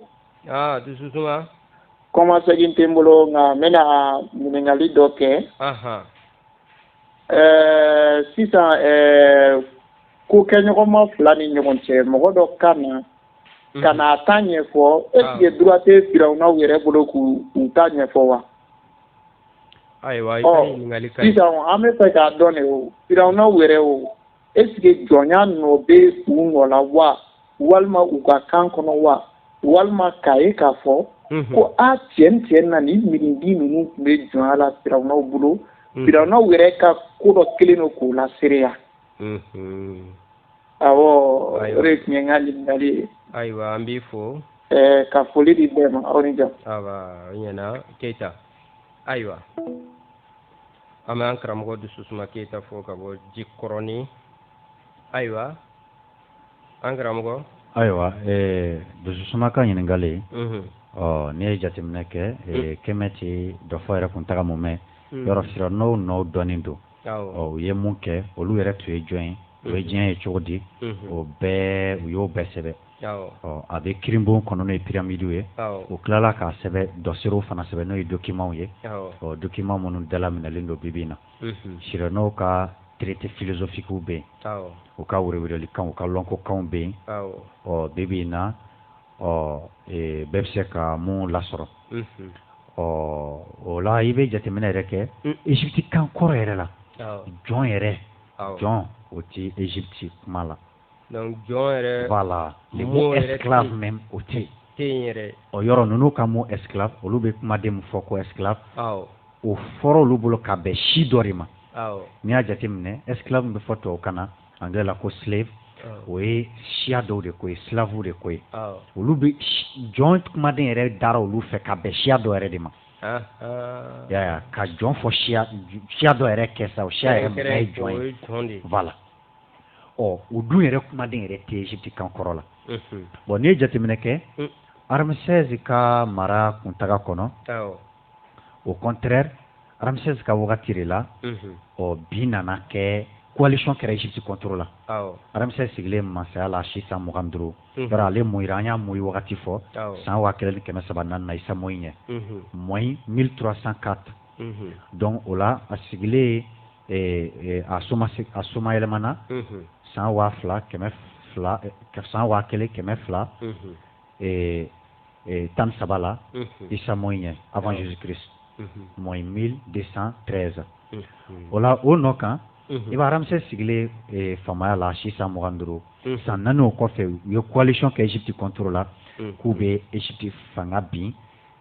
aa dususuma kɔmasegin tɛ n bolo nka n bɛna ɲininkali dɔ kɛ ɛɛ sisan ko kɛɲɔgɔnma fila ni ɲɔgɔn cɛ mɔgɔ dɔ ka na ka na a ta ɲɛfɔ est ce que droit tɛ firawunaw yɛrɛ bolo k'u ta ɲɛfɔ wa ayiwa i ka ɲininkali ka ɲi sisan an bɛ fɛ k'a dɔn de o firawunaw yɛrɛ o est ce que jɔnya nɔ bɛ u nɔ la wa walima u ka kan kɔnɔ wa walima k'a ye k'a fɔ ko a tiɲɛ tiɲɛ na nin miiridi ninnu tun bɛ jɔnya la firawunaw bolo firawunaw yɛrɛ ka ko dɔ kelen don k'o laseereya awɔ o de tun ye n ka ɲininkali ye ayiwa an b'i fo ɛɛ ka foli di bɛɛ ma aw ni jɔ ayiwa o ɲɛna keyita ayiwa an bɛ an karamɔgɔ dususuma keyita fo ka bɔ jikɔrɔni ayiwa an karamɔgɔ ayiwa ɛɛ dususuma ka ɲininkali mhm. ɔ n'i ye jateminɛ kɛ mhm. kɛmɛti dɔfɔ yɛrɛ kuntaga mumɛ mhm. yɔrɔ firawunaw nɔw dɔnnen don u ye mun kɛ olu yɛrɛ tun ye jɔn ye u ye diɲɛ ye cogo di o bɛɛ u y'o bɛɛ sɛbɛn a bɛ kirinbon kɔnɔ n'o ye piramidiw ye o tilala k'a sɛbɛn dɔserew fana sɛbɛn n'o ye dokimanw ye ɔ dokiman minnu dalaminɛlen don bi bi na firawunaw ka traité philosophiquew bɛ yen u ka wele wele kan u ka lɔnkokan bɛ yen ɔ bi bi na ɔ ee, bɛɛ bɛ se ka mun lasɔrɔ ɔ o la i bɛ jateminɛ yɛrɛ kɛ ezipti kan kɔrɔ yɛrɛ la jɔn yɛrɛ jɔn o tɛ ezipti kuma la donc jɔn yɛrɛ voilà le mot esclave même o tɛ yen yɛrɛ ɔ yɔrɔ ninnu ka mot esclave olu bɛ kumaden min fɔ ko esclave o fɔra olu bolo ka bɛn si dɔ de ma n'i y'a jateminɛ esclave bɛ fɔ tubabukan na anglais la ko slave o ye siya dɔw de ko ye slavew de ko ye olu bɛ jɔn kumaden yɛrɛ dara olu fɛ ka bɛn siya dɔ yɛrɛ de ma yaya ka jɔn fɔ siya dɔ yɛrɛ kɛ sa o siya yɛrɛ mɔgɔ ye jɔn ye voilà ɔ o dun yɛrɛ kumaden yɛrɛ tɛ Egypte kan kɔrɔ la bon n'i ye jateminɛ kɛ Ramsès ka mara kuntaga kɔnɔ au contraire ramsès ka wagati de la o bin nana kɛ coalition kɛra egypte contre la ramsès sigilen masaya la si san mugan duuru yɔrɔ ale moyira an y'a moyi wagati fɔ san waa kelen ni kɛmɛ saba naani na isa moyi ɲɛ moyi mille trois cent quatre donc o la a sigilen a a soma yɛlɛmana san waa fila kɛmɛ san waa kelen kɛmɛ fila ee ee tan ni saba la isa moyi ɲɛ avant jesus christ moyi mille deux cent treize o la o nɔ kan i b'a ramsès sigilen ee faamaya la si san mugan duuru san naani o kɔfɛ u ye coalition kɛ egypte contre la k'u bɛ egypte fanga bin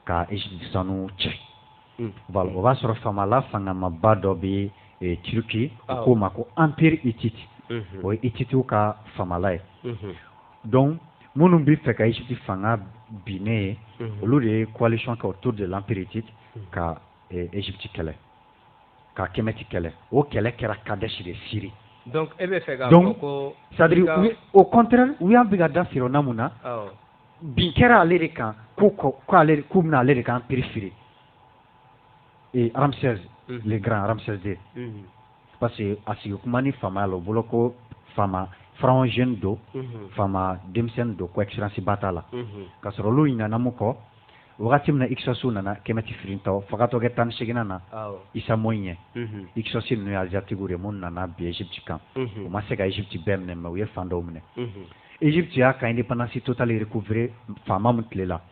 ka egypte sanu cɛ voilà o b'a sɔrɔ faamala fangamaba dɔ bɛ ee turquie u k'o ma ko empire hittite o ye hittitew ka faamala ye donc minnu bɛ fɛ ka Egypte fanga binnen ye mhm. olu de ye coalition kɛ autour de l'empire Hittite mhm. ka eh, Egypte kɛlɛ ka Kemɛti kɛlɛ o kɛlɛ kɛra Kadesh de Syrie donc e bɛ fɛ k'a fɔ ko c'est à dire au contraire u y'an bɛ ka da Firawuna mun na bin kɛra ale de kan ko k'ale k'u binna ale de kan empire firi et Ramsès mhm. le grand Ramsès II parce que a sigi kuma ni faamaya la o bolo ko faama pharaon jeune don mhm. faama denmisɛnnin don ko expérience ba t'a la mhm. ka sɔrɔ olu ɲinana min kɔ wagati min na hyksosw nana kɛmɛti firintɔ fagatɔ kɛ tan ni seginnan na isa moyi ɲɛ mhm. hyksos ninnu ye asiatiquew de minnu nana bin egypte kan u ma se ka egypte bɛɛ minɛ mais u ye fan dɔw minɛ egypte y'a ka independance totale recouvrer faama min tile la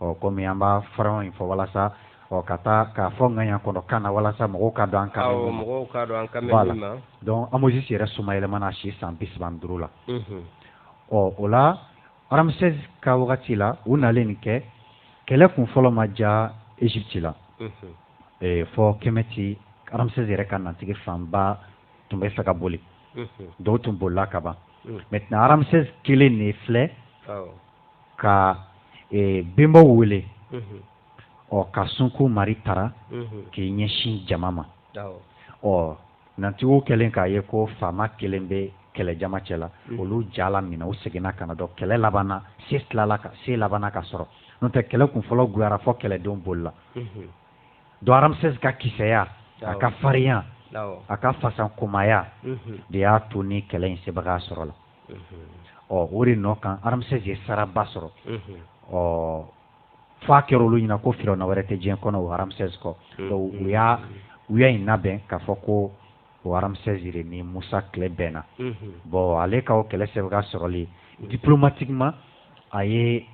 ɔ kɔmi an b'a pharaon in fɔ walasa ɔ ka taa k'a fɔ ŋaniya kɔnɔ kan na walasa mɔgɔw ka dɔn an kan donc ahmosis yɛrɛ soma yɛlɛmana si san bi saba duuru la ɔ o la ramsès ka wagati la u nalen nin kɛ kɛlɛ kun fɔlɔ ma ja egypte la fɔ kɛmɛti ramsès yɛrɛ ka nantigi fanba tun bɛ fɛ ka boli dɔw tun bolila kaban maintenant ramsès kelen de filɛ ka e, bɛnbaw wele ɔ ka sunko mari taara k'i ɲɛsin jama ma ɔ nantigiw kɛlen k'a ye ko faama kelen bɛ kɛlɛjama cɛ la olu jala minɛ u seginna ka na donc kɛlɛ labanna se tilala ka se labanna ka sɔrɔ n'o tɛ kɛlɛ kun fɔlɔ guyara fɔ kɛlɛdenw bolila donc ramsès ka kisɛya a ka farinya a ka fasakomaya de y'a to ni kɛlɛ in sebaga sɔrɔ la ɔ o de nɔ kan Ramsès ye saraba sɔrɔ ɔ f'a kɛra olu ɲɛna ko firawuna wɛrɛ tɛ diɲɛ kɔnɔ o Ramsès kɔ u y'a u y'a in labɛn k'a fɔ ko o Ramsès de ni musa tile bɛnna bon ale ka o kɛlɛ sebaga sɔrɔli diplomatiquement a ye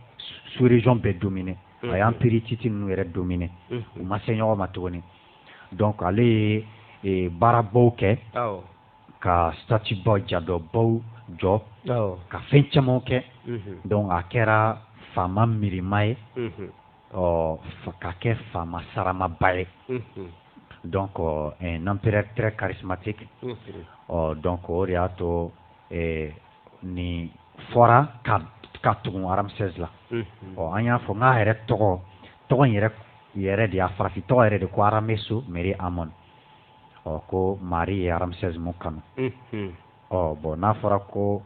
sous-région bɛɛ dominer a ye empire hittite ninnu yɛrɛ dominer u ma se ɲɔgɔn ma tuguni donc ale ye baarabaw kɛ ka statue baw jadɔbaw jɔ ka fɛn caman kɛ donc a kɛra faama miirima ye ɔ ka kɛ faama saramaba ye donc un empereur très charismatique ɔ donc o de y'a to nin fɔra ka ka tugun Ramsès la ɔ an y'a fɔ nk'a yɛrɛ tɔgɔ tɔgɔ in yɛrɛ yɛrɛ de y'a farafin tɔgɔ yɛrɛ de ko Arameso Meri Amon ɔ ko mari ye Ramsès mun kanu ɔ bon n'a fɔra ko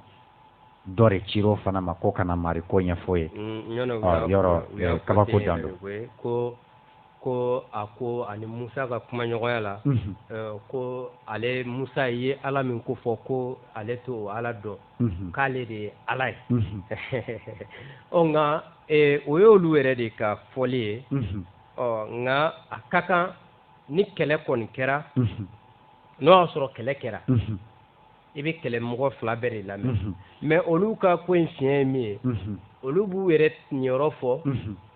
dɔ de cir'o fana ma ko ka na mari ko ɲɛf'o ye yɔrɔ kabako dan don ko a ko a ni musa ka kumaɲɔgɔnya la ko ale musa ye ala min kofɔ ko ale t'o ala dɔn k'ale de ye ala ye ɔ nka o y'olu yɛrɛ de ka fɔli ye ɔ nka a ka kan ni kɛlɛ kɔni kɛra n'o y'a sɔrɔ kɛlɛ kɛra i bɛ kɛlɛ mɔgɔ fila bɛɛ de lamɛn mais olu ka ko in fiɲɛ ye min ye olu b'u yɛrɛ niyɔrɔ fɔ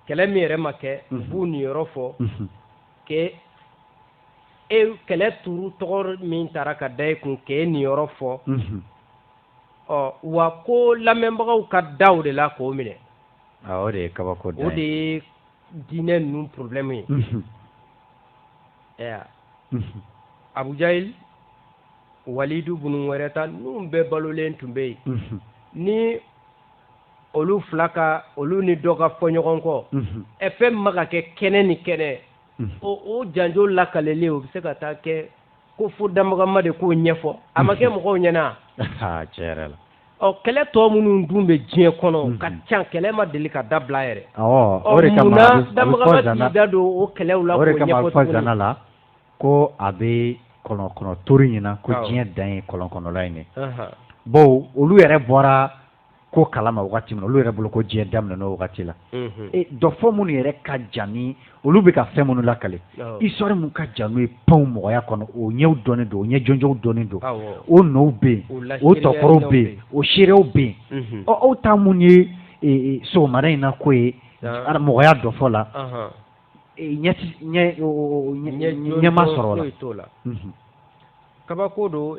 kɛlɛ min yɛrɛ ma kɛ u b'u niyɔrɔ fɔ ke e kɛlɛ tuuru tɔgɔ min tara ka da e kun k'e niyɔrɔ fɔ ɔ wa ko lamɛnbagaw ka da o de la k'o minɛ o de ye kabako o de ye diinɛ ninnu problème ye ɛɛ abu jahil walidu bunu wɛrɛ ta ninnu bɛɛ balolen tun bɛ yen ni olu fila ka olu ni dɔ ka fɔ ɲɔgɔn kɔ ɛ fɛn ma ka kɛ kɛnɛ ni kɛnɛ o janjo lakaleli o bɛ se ka taa kɛ ko fo damagama de k'o ɲɛfɔ a ma kɛ mɔgɔw ɲɛna tiɲɛ yɛrɛ la ɔ kɛlɛ tɔ minnu dun bɛ diɲɛ kɔnɔ mm -hmm. ka ca kɛlɛ ma deli ka dabila yɛrɛ o de kama damagama t'i da don o kɛlɛw la o de kama a bɛ fɔ zana la ko a bɛ kɔlɔnkɔnɔ tori ɲɛna ko diɲɛ dan ye kɔlɔnkɔnɔla in ye bon olu yɛrɛ bɔra ko kalama wagati min olu yɛrɛ bolo ko diɲɛ daminɛna o wagati la dɔfɔ minnu yɛrɛ ka jan ni olu bɛ ka fɛn minnu lakale histoire min ka jan n'o ye panw mɔgɔya kɔnɔ o ɲɛw dɔnnen don o ɲɛ jɔnjɔnw dɔnnen don o nɔw bɛ yen o tɔkɔrɔw bɛ yen o seerew bɛ yen ɔ aw ta mun ye sɔgɔmada in na ko ye mɔgɔya dɔfɔ la ɲɛma sɔrɔ la kabako don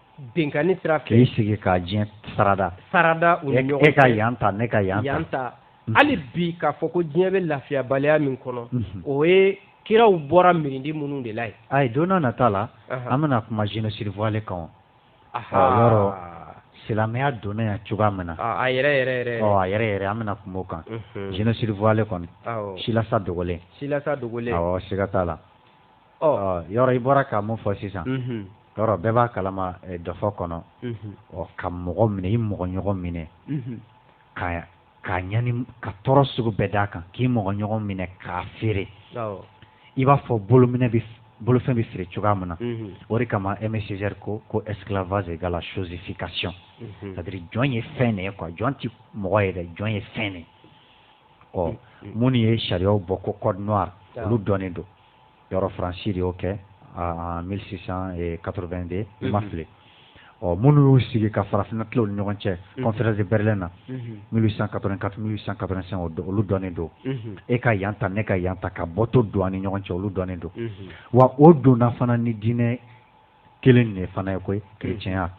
binkanni sira fɛ k'i sigi ka diɲɛ sarada sarada u ni ɲɔgɔn cɛ e ka yan ta ne ka yan ta yan ta mhm. hali bi k'a fɔ ko diɲɛ bɛ lafiyabaliya min kɔnɔ mhm. o ye kiraw bɔra mirindi minnu de la ye ayi donna nata la an bɛna kuma génocide voilé kan yɔrɔ silamɛya donna yan cogoya min na a yɛrɛ yɛrɛ yɛrɛ ɔ a yɛrɛ yɛrɛ an bɛna kuma o kan génocide voilé kɔni silasa dogolen silasa dogolen awɔ siga t'a la Ɔ yɔrɔ i bɔra ka mun fɔ sisan yɔrɔ bɛɛ b'a kalama dɔfɔ kɔnɔ ɔ ka mɔgɔ minɛ i mɔgɔ ɲɔgɔn minɛ ka ka ɲani ka tɔɔrɔ sugu bɛɛ d'a kan k'i mɔgɔ ɲɔgɔn minɛ k'a feere i b'a fɔ bolo bolofɛn bɛ feere cogoya min na o de kama Aimé Césaire ko ko esclavage égale chosification c'est-à-dire jɔn ye fɛn de ye quoi jɔn tɛ mɔgɔ ye dɛ jɔn ye fɛn de ye ɔ minnu ye sariyaw bɔ ko code noir olu dɔnnen don yɔrɔ faransi de y'o kɛ mili sisan kato2 de i ma fili ɔ minnu y'u sigi ka farafinina kiw ni ɲɔgɔn cɛ kɔnfɛsi bɛrɛ na mili san ka ka san ka san o don olu dɔnnen don e ka yan ta ne ka yan ta ka bɔtɔ don ni ɲɔgɔn cɛ olu dɔnnen don wa o donnafana ni diinɛ kelen de fana ye koyi kerecɛnya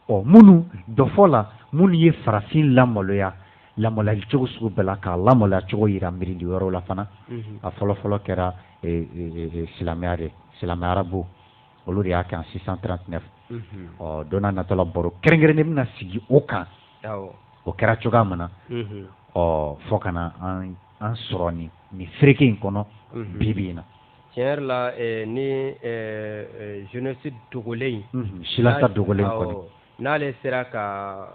ɔ minnu dɔfɔ la minnu ye farafin lamaloya lamaloyali cogo sugu bɛɛ la k'a lamaloya cogo yira mirindi wɛrɛw la fana mhm. a fɔlɔfɔlɔ kɛra e, e, e, silamɛya de silamɛ arabu olu de y'a kɛ en six cent trente-neuf mhm. ɔ donna natɔ la baro kɛrɛnkɛrɛnnen bɛna sigi o kan o kɛra cogoya min na mhm. ɔ fɔ ka na an sɔrɔ nin nin fereke in kɔnɔ bibi in na tiɲɛ yɛrɛ la eh, ni eh, eh, génocide dogolen in mhm. silasa dogolen kɔni n'ale sera ka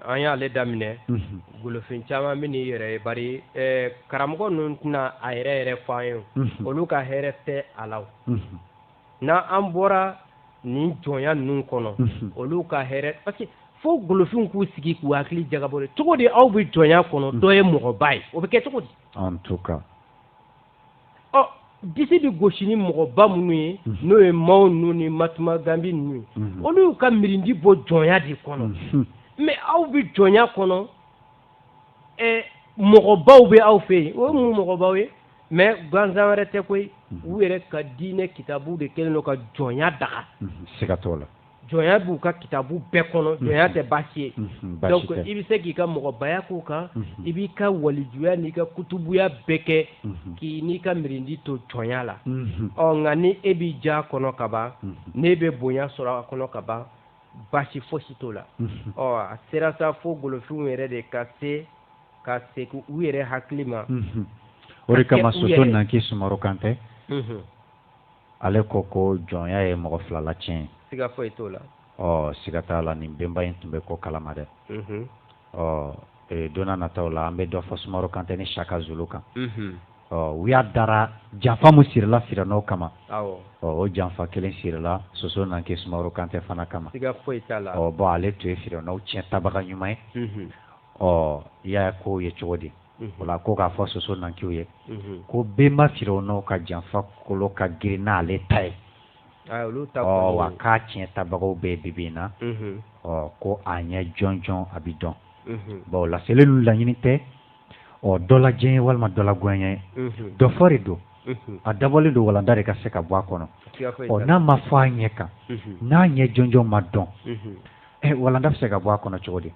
an y'ale daminɛ mhm. golofin caman bɛ n'i yɛrɛ ye bari karamɔgɔ ninnu tɛna a yɛrɛ yɛrɛ fɔ an ye mhm. olu ka hɛrɛ tɛ a la n'an an bɔra nin jɔnya ninnu kɔnɔ olu ka hɛrɛ parce que fo golofinw k'u sigi k'u hakili jagabɔ cogo di aw bɛ jɔnya kɔnɔ dɔ ye mɔgɔba ye o bɛ kɛ cogo di ɔ disi bɛ gosi ni mɔgɔba minnu ye n'o ye Mao ninnu ni Mahatma Gandhi ninnu ye olu y'u ka mirindi bɔ jɔnya de kɔnɔ mais aw bɛ jɔnya kɔnɔ mɔgɔbaw bɛ aw fɛ yen o ye mun mɔgɔbaw ye mais gansan wɛrɛ tɛ koyi u yɛrɛ ka diinɛ kitabu de kɛlen don ka jɔnya daga siga t'o la jɔnya b'u ka kitabu bɛɛ kɔnɔ mhm. jɔnya tɛ baasi ye mhm, donc i bɛ se k'i ka mɔgɔbaya k'o kan mhm. i b'i ka walijuya n'i ka kutubuya bɛɛ kɛ k'i n'i ka mirindi to jɔnya la ɔ nka ni e bɛ jɔnya kɔnɔ ka ban n'e bɛ bonya sɔrɔ a kɔnɔ ka ban baasi fosi t'o la ɔ a sera sa fo golofinw yɛrɛ de ka se ka segin u yɛrɛ hakili ma o de kama soso nankɛ sumaworo kantɛ ale ko ko jɔnya ye mɔgɔ fila la tiɲɛ ye siga foyi t'o la ɔ siga t'a la nin benba in tun bɛ ko kalama dɛ mhm. ɔ e, don nataw la an bɛ dɔ fɔ sumaworo kantɛ ni shaka zulu kan mhm. ɔ u y'a dara janfa min sirila firawunaw kama ɔ o janfa kelen sirila soso nanki sumaworo kantɛ fana kama siga foyi t'a la ɔ bon ale tun ye firawunaw tiɲɛ tabaga ɲuman ye mhm. ɔ i y'a ko ye cogo di wala ko k'a fɔ soso nankiw ye ko benba firawunaw ka janfa kolo ka girin n'ale ta ye wa k'a tiɲɛ tabagaw bɛ bibi in na ɔ ko a ɲɛ jɔnjɔn a bɛ dɔn bon laseli ninnu laɲini tɛ ɔ dɔ la diyanye walima dɔ la goyanye ye dɔfɔ de don a dabɔlen don walanda de ka se ka bɔ a kɔnɔ ɔ n'a ma fɔ a ɲɛ kan n'a ɲɛ jɔnjɔn ma dɔn walanda bɛ se ka bɔ a kɔnɔ cogo di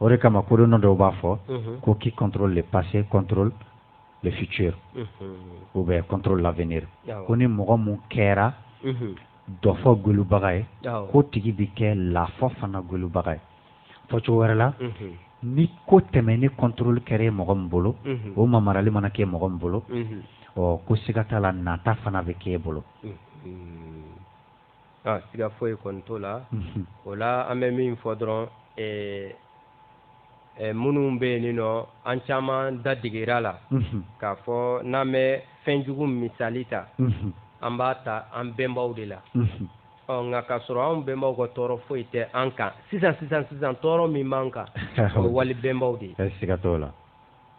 o de kama kodɔnna dɔw b'a fɔ ko qui contrôle le passé contrôle le futur ou bien contrôle l'avenir ko ni mɔgɔ min kɛra dɔfɔ gwɛlubaga ye k'o tigi bɛ kɛ lafɔ fana gwɛlubaga ye fɔcogo wɛrɛ la ni ko tɛmɛnen contrôle kɛra ye mɔgɔ min bolo o mamarali mana kɛ mɔgɔ min bolo ɔ ko siga t'a la nata fana bɛ k'e bolo aa siga foyi kɔni t'o la unhun o la an bɛ min fɔ dɔrɔn ee ee minnu bɛ yen nin nɔ an caman da deger'a la unhun k'a fɔ n'an bɛ fɛn jugu misali ta unhun an b'a ta an bɛnbaw de la unhun ɔ nka k'a sɔrɔ anw bɛnbaw ka tɔɔrɔ foyi tɛ an kan sisan sisan sisan tɔɔrɔ min b'an kan o ye wali bɛnbaw de ye siga t'o la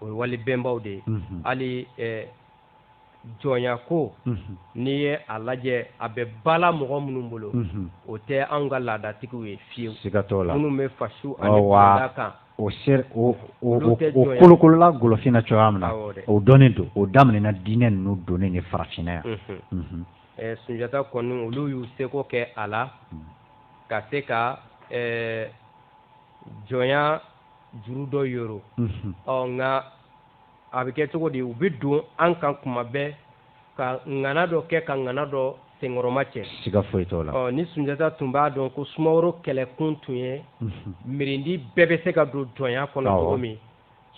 o ye wali bɛnbaw de ye unhun hali ee jɔnya ko mhm. n'i ye a lajɛ a bɛ bala mɔgɔ minnu bolo mhm. o tɛ anw ka laadatigiw ye fiyewu siga t'o la minnu bɛ fasiw ani kɔda kan o ser o o o kolokolola golofinna cogoya min na o dɔnnen don o daminɛna diinɛ ninnu donnen de farafinna yan mhm. eh, sunjata kɔni olu y'u seko kɛ a la mm. ka se ka eh, jɔnya juru dɔ yoro ɔ nka a bɛ kɛ cogo di u bɛ don an kan kuma bɛɛ ka ŋana dɔ kɛ ka ŋana dɔ senkɔrɔma cɛ siga foyi t'o la ɔ ni sunjata tun b'a dɔn ko sumaworo kɛlɛkun tun ye mhm. mirindi bɛɛ bɛ se ka don jɔnya kɔnɔ cogo min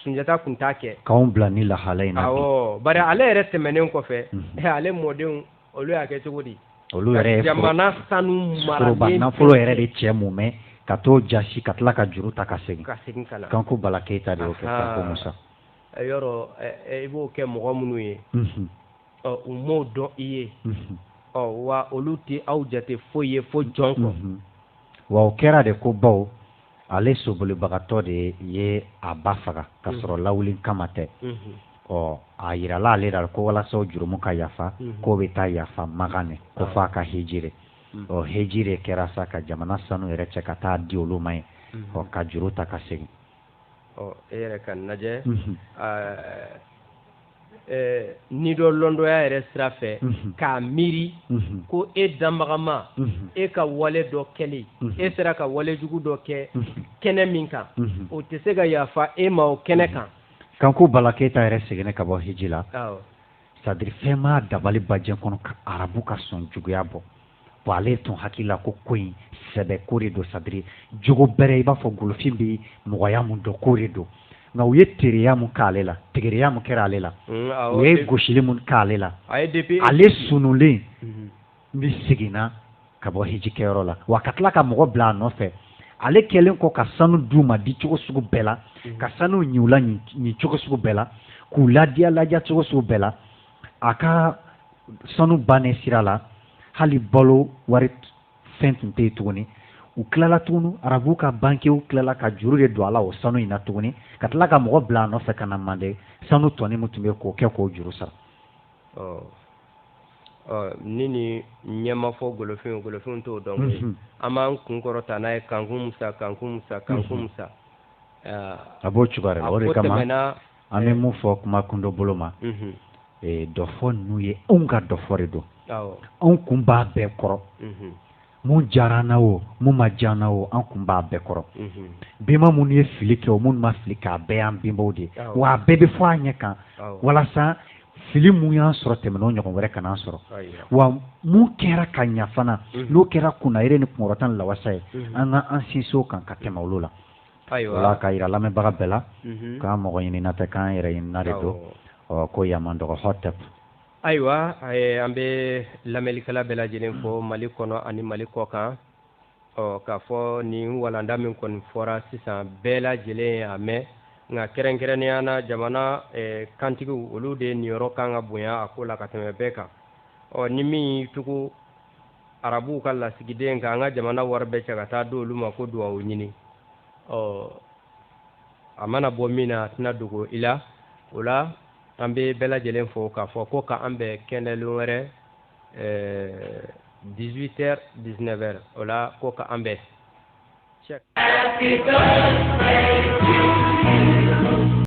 sunjata tun t'a kɛ k'anw bila nin lahala in na awɔ bari ale yɛrɛ tɛmɛnen kɔfɛ mhm. ale mɔdenw olu y'a kɛ cogo di olu yɛrɛ jamana sanu foroba nafolo yɛrɛ de cɛ mumɛ ka t'o jasi ka tila ka juru ta ka segin ka segin ka na kanku bala keyita de y'o kɛ kanku musa yɔrɔ i b'o kɛ mɔgɔ minnu ye u m'o dɔn i ye ɔ wa olu tɛ aw jate foyi ye fo jɔn kɔ wa o kɛra de ko baw ale sobolibagatɔ de ye a ba faga ka sɔrɔ mhm. lawuli kama tɛ mhm. ɔ a yirala ale la ko walasa o jurumu ka yafa mhm. k'o bɛ taa yafa makan de ko ah. f'a ka hejire ɔ hejire kɛra sa ka jamana sanu yɛrɛ cɛ ka taa di olu ma yen ɔ ka juru ta ka segin ɔ e yɛrɛ k'a lajɛ ni dɔ lɔndɔya yɛrɛ sira fɛ mhm. k'a miiri mhm. ko e danbaga ma mhm. e ka wale dɔ kɛli e sera ka wale jugu dɔ kɛ kɛnɛ min kan o tɛ se ka yafa e ma o kɛnɛ kan kanku bala keyita yɛrɛ seginna ka bɔ hiji la c'est-à-dire fɛn ma dabali bajɛ kɔnɔ ka arabu ka sɔn juguya bɔ wa ale tun hakili la ko ko in sɛbɛ ko de don c'est-à-dire jogo bɛrɛ i b'a fɔ golofin bɛ mɔgɔya mun dɔn ko de don nka u ye tereya mun k'ale la tegereya mun kɛra ale la mm, u ye gosili mun k'ale la ale sunulen mhm. ni seginna ka bɔ hiji kɛyɔrɔ la wa ka tila ka mɔgɔ bila a nɔfɛ ale kɛlen kɔ ka sanu d'u ma di cogo sugu bɛɛ la mhm. ka sanu ɲi u la ɲi cogo sugu bɛɛ la k'u ladiya ladiya cogo sugu bɛɛ la a ka sanu bannen sira la hali balo wari fɛn tun tɛ yen tuguni u tilala tuguni arabu ka bankiw tilala ka juru de don a la o sanu in na tuguni ka tila ka mɔgɔ bila a nɔfɛ ka na mande sanu tɔnin min tun bɛ k'o kɛ k'o juru sara ni nin ɲɛ ma fɔ golofin golofin t'o dɔn mhm. an b'an kun kɔrɔta n'a ye kankun musa kankun musa kankun mhm. musa a b'o cogoya la o de kama an bɛ mun fɔ kuma kundo bolo ma dɔfɔ ninnu ye anw ka dɔfɔ de don anw kun b'a bɛɛ kɔrɔ mun diyara an na o mun ma diya an na o an kun b'a bɛɛ kɔrɔ benba minnu ye fili kɛ o minnu ma fili kɛ a bɛɛ y'an benbaw de ye wa a bɛɛ bɛ fɔ a ɲɛ kan walasa fili mun y'an sɔrɔ tɛmɛnen o ɲɔgɔn wɛrɛ kana an sɔrɔ wa mun kɛra ka ɲa fana n'o kɛra kunnayere ni kunkɔrɔta ni lawasa ye an ka an sinsin o kan ka tɛmɛ olu la ayiwa k'a yira lamɛnbaga bɛɛ la k'an mɔgɔ ɲinina tɛ k'an yɛrɛ ɲinina de don ɔ ko yama dɔgɔ hɔtɛp ayiwa an bɛ lamɛnlikɛla bɛɛ lajɛlen fo mali kɔnɔ ani mali kɔ kan ɔ k'a fɔ nin walanda min kɔni fɔra sisan bɛɛ lajɛlen y'a mɛn nka kɛrɛnkɛrɛnnenya na jamana kantigiw olu de niyɔrɔ kan ka bonya a ko la ka tɛmɛ bɛɛ kan ɔ ni min y'i tugu arabuw ka lasigiden kan an ka jamana wari bɛɛ cɛ ka taa di olu ma ko duwawu ɲini ɔ a mana bɔ min na a tɛna dogo i la o la an bɛ bɛɛ lajɛlen fo k'a fɔ ko k'an bɛn kɛnɛlon wɛrɛ 18 heures 19 heures o la ko k'an bɛn.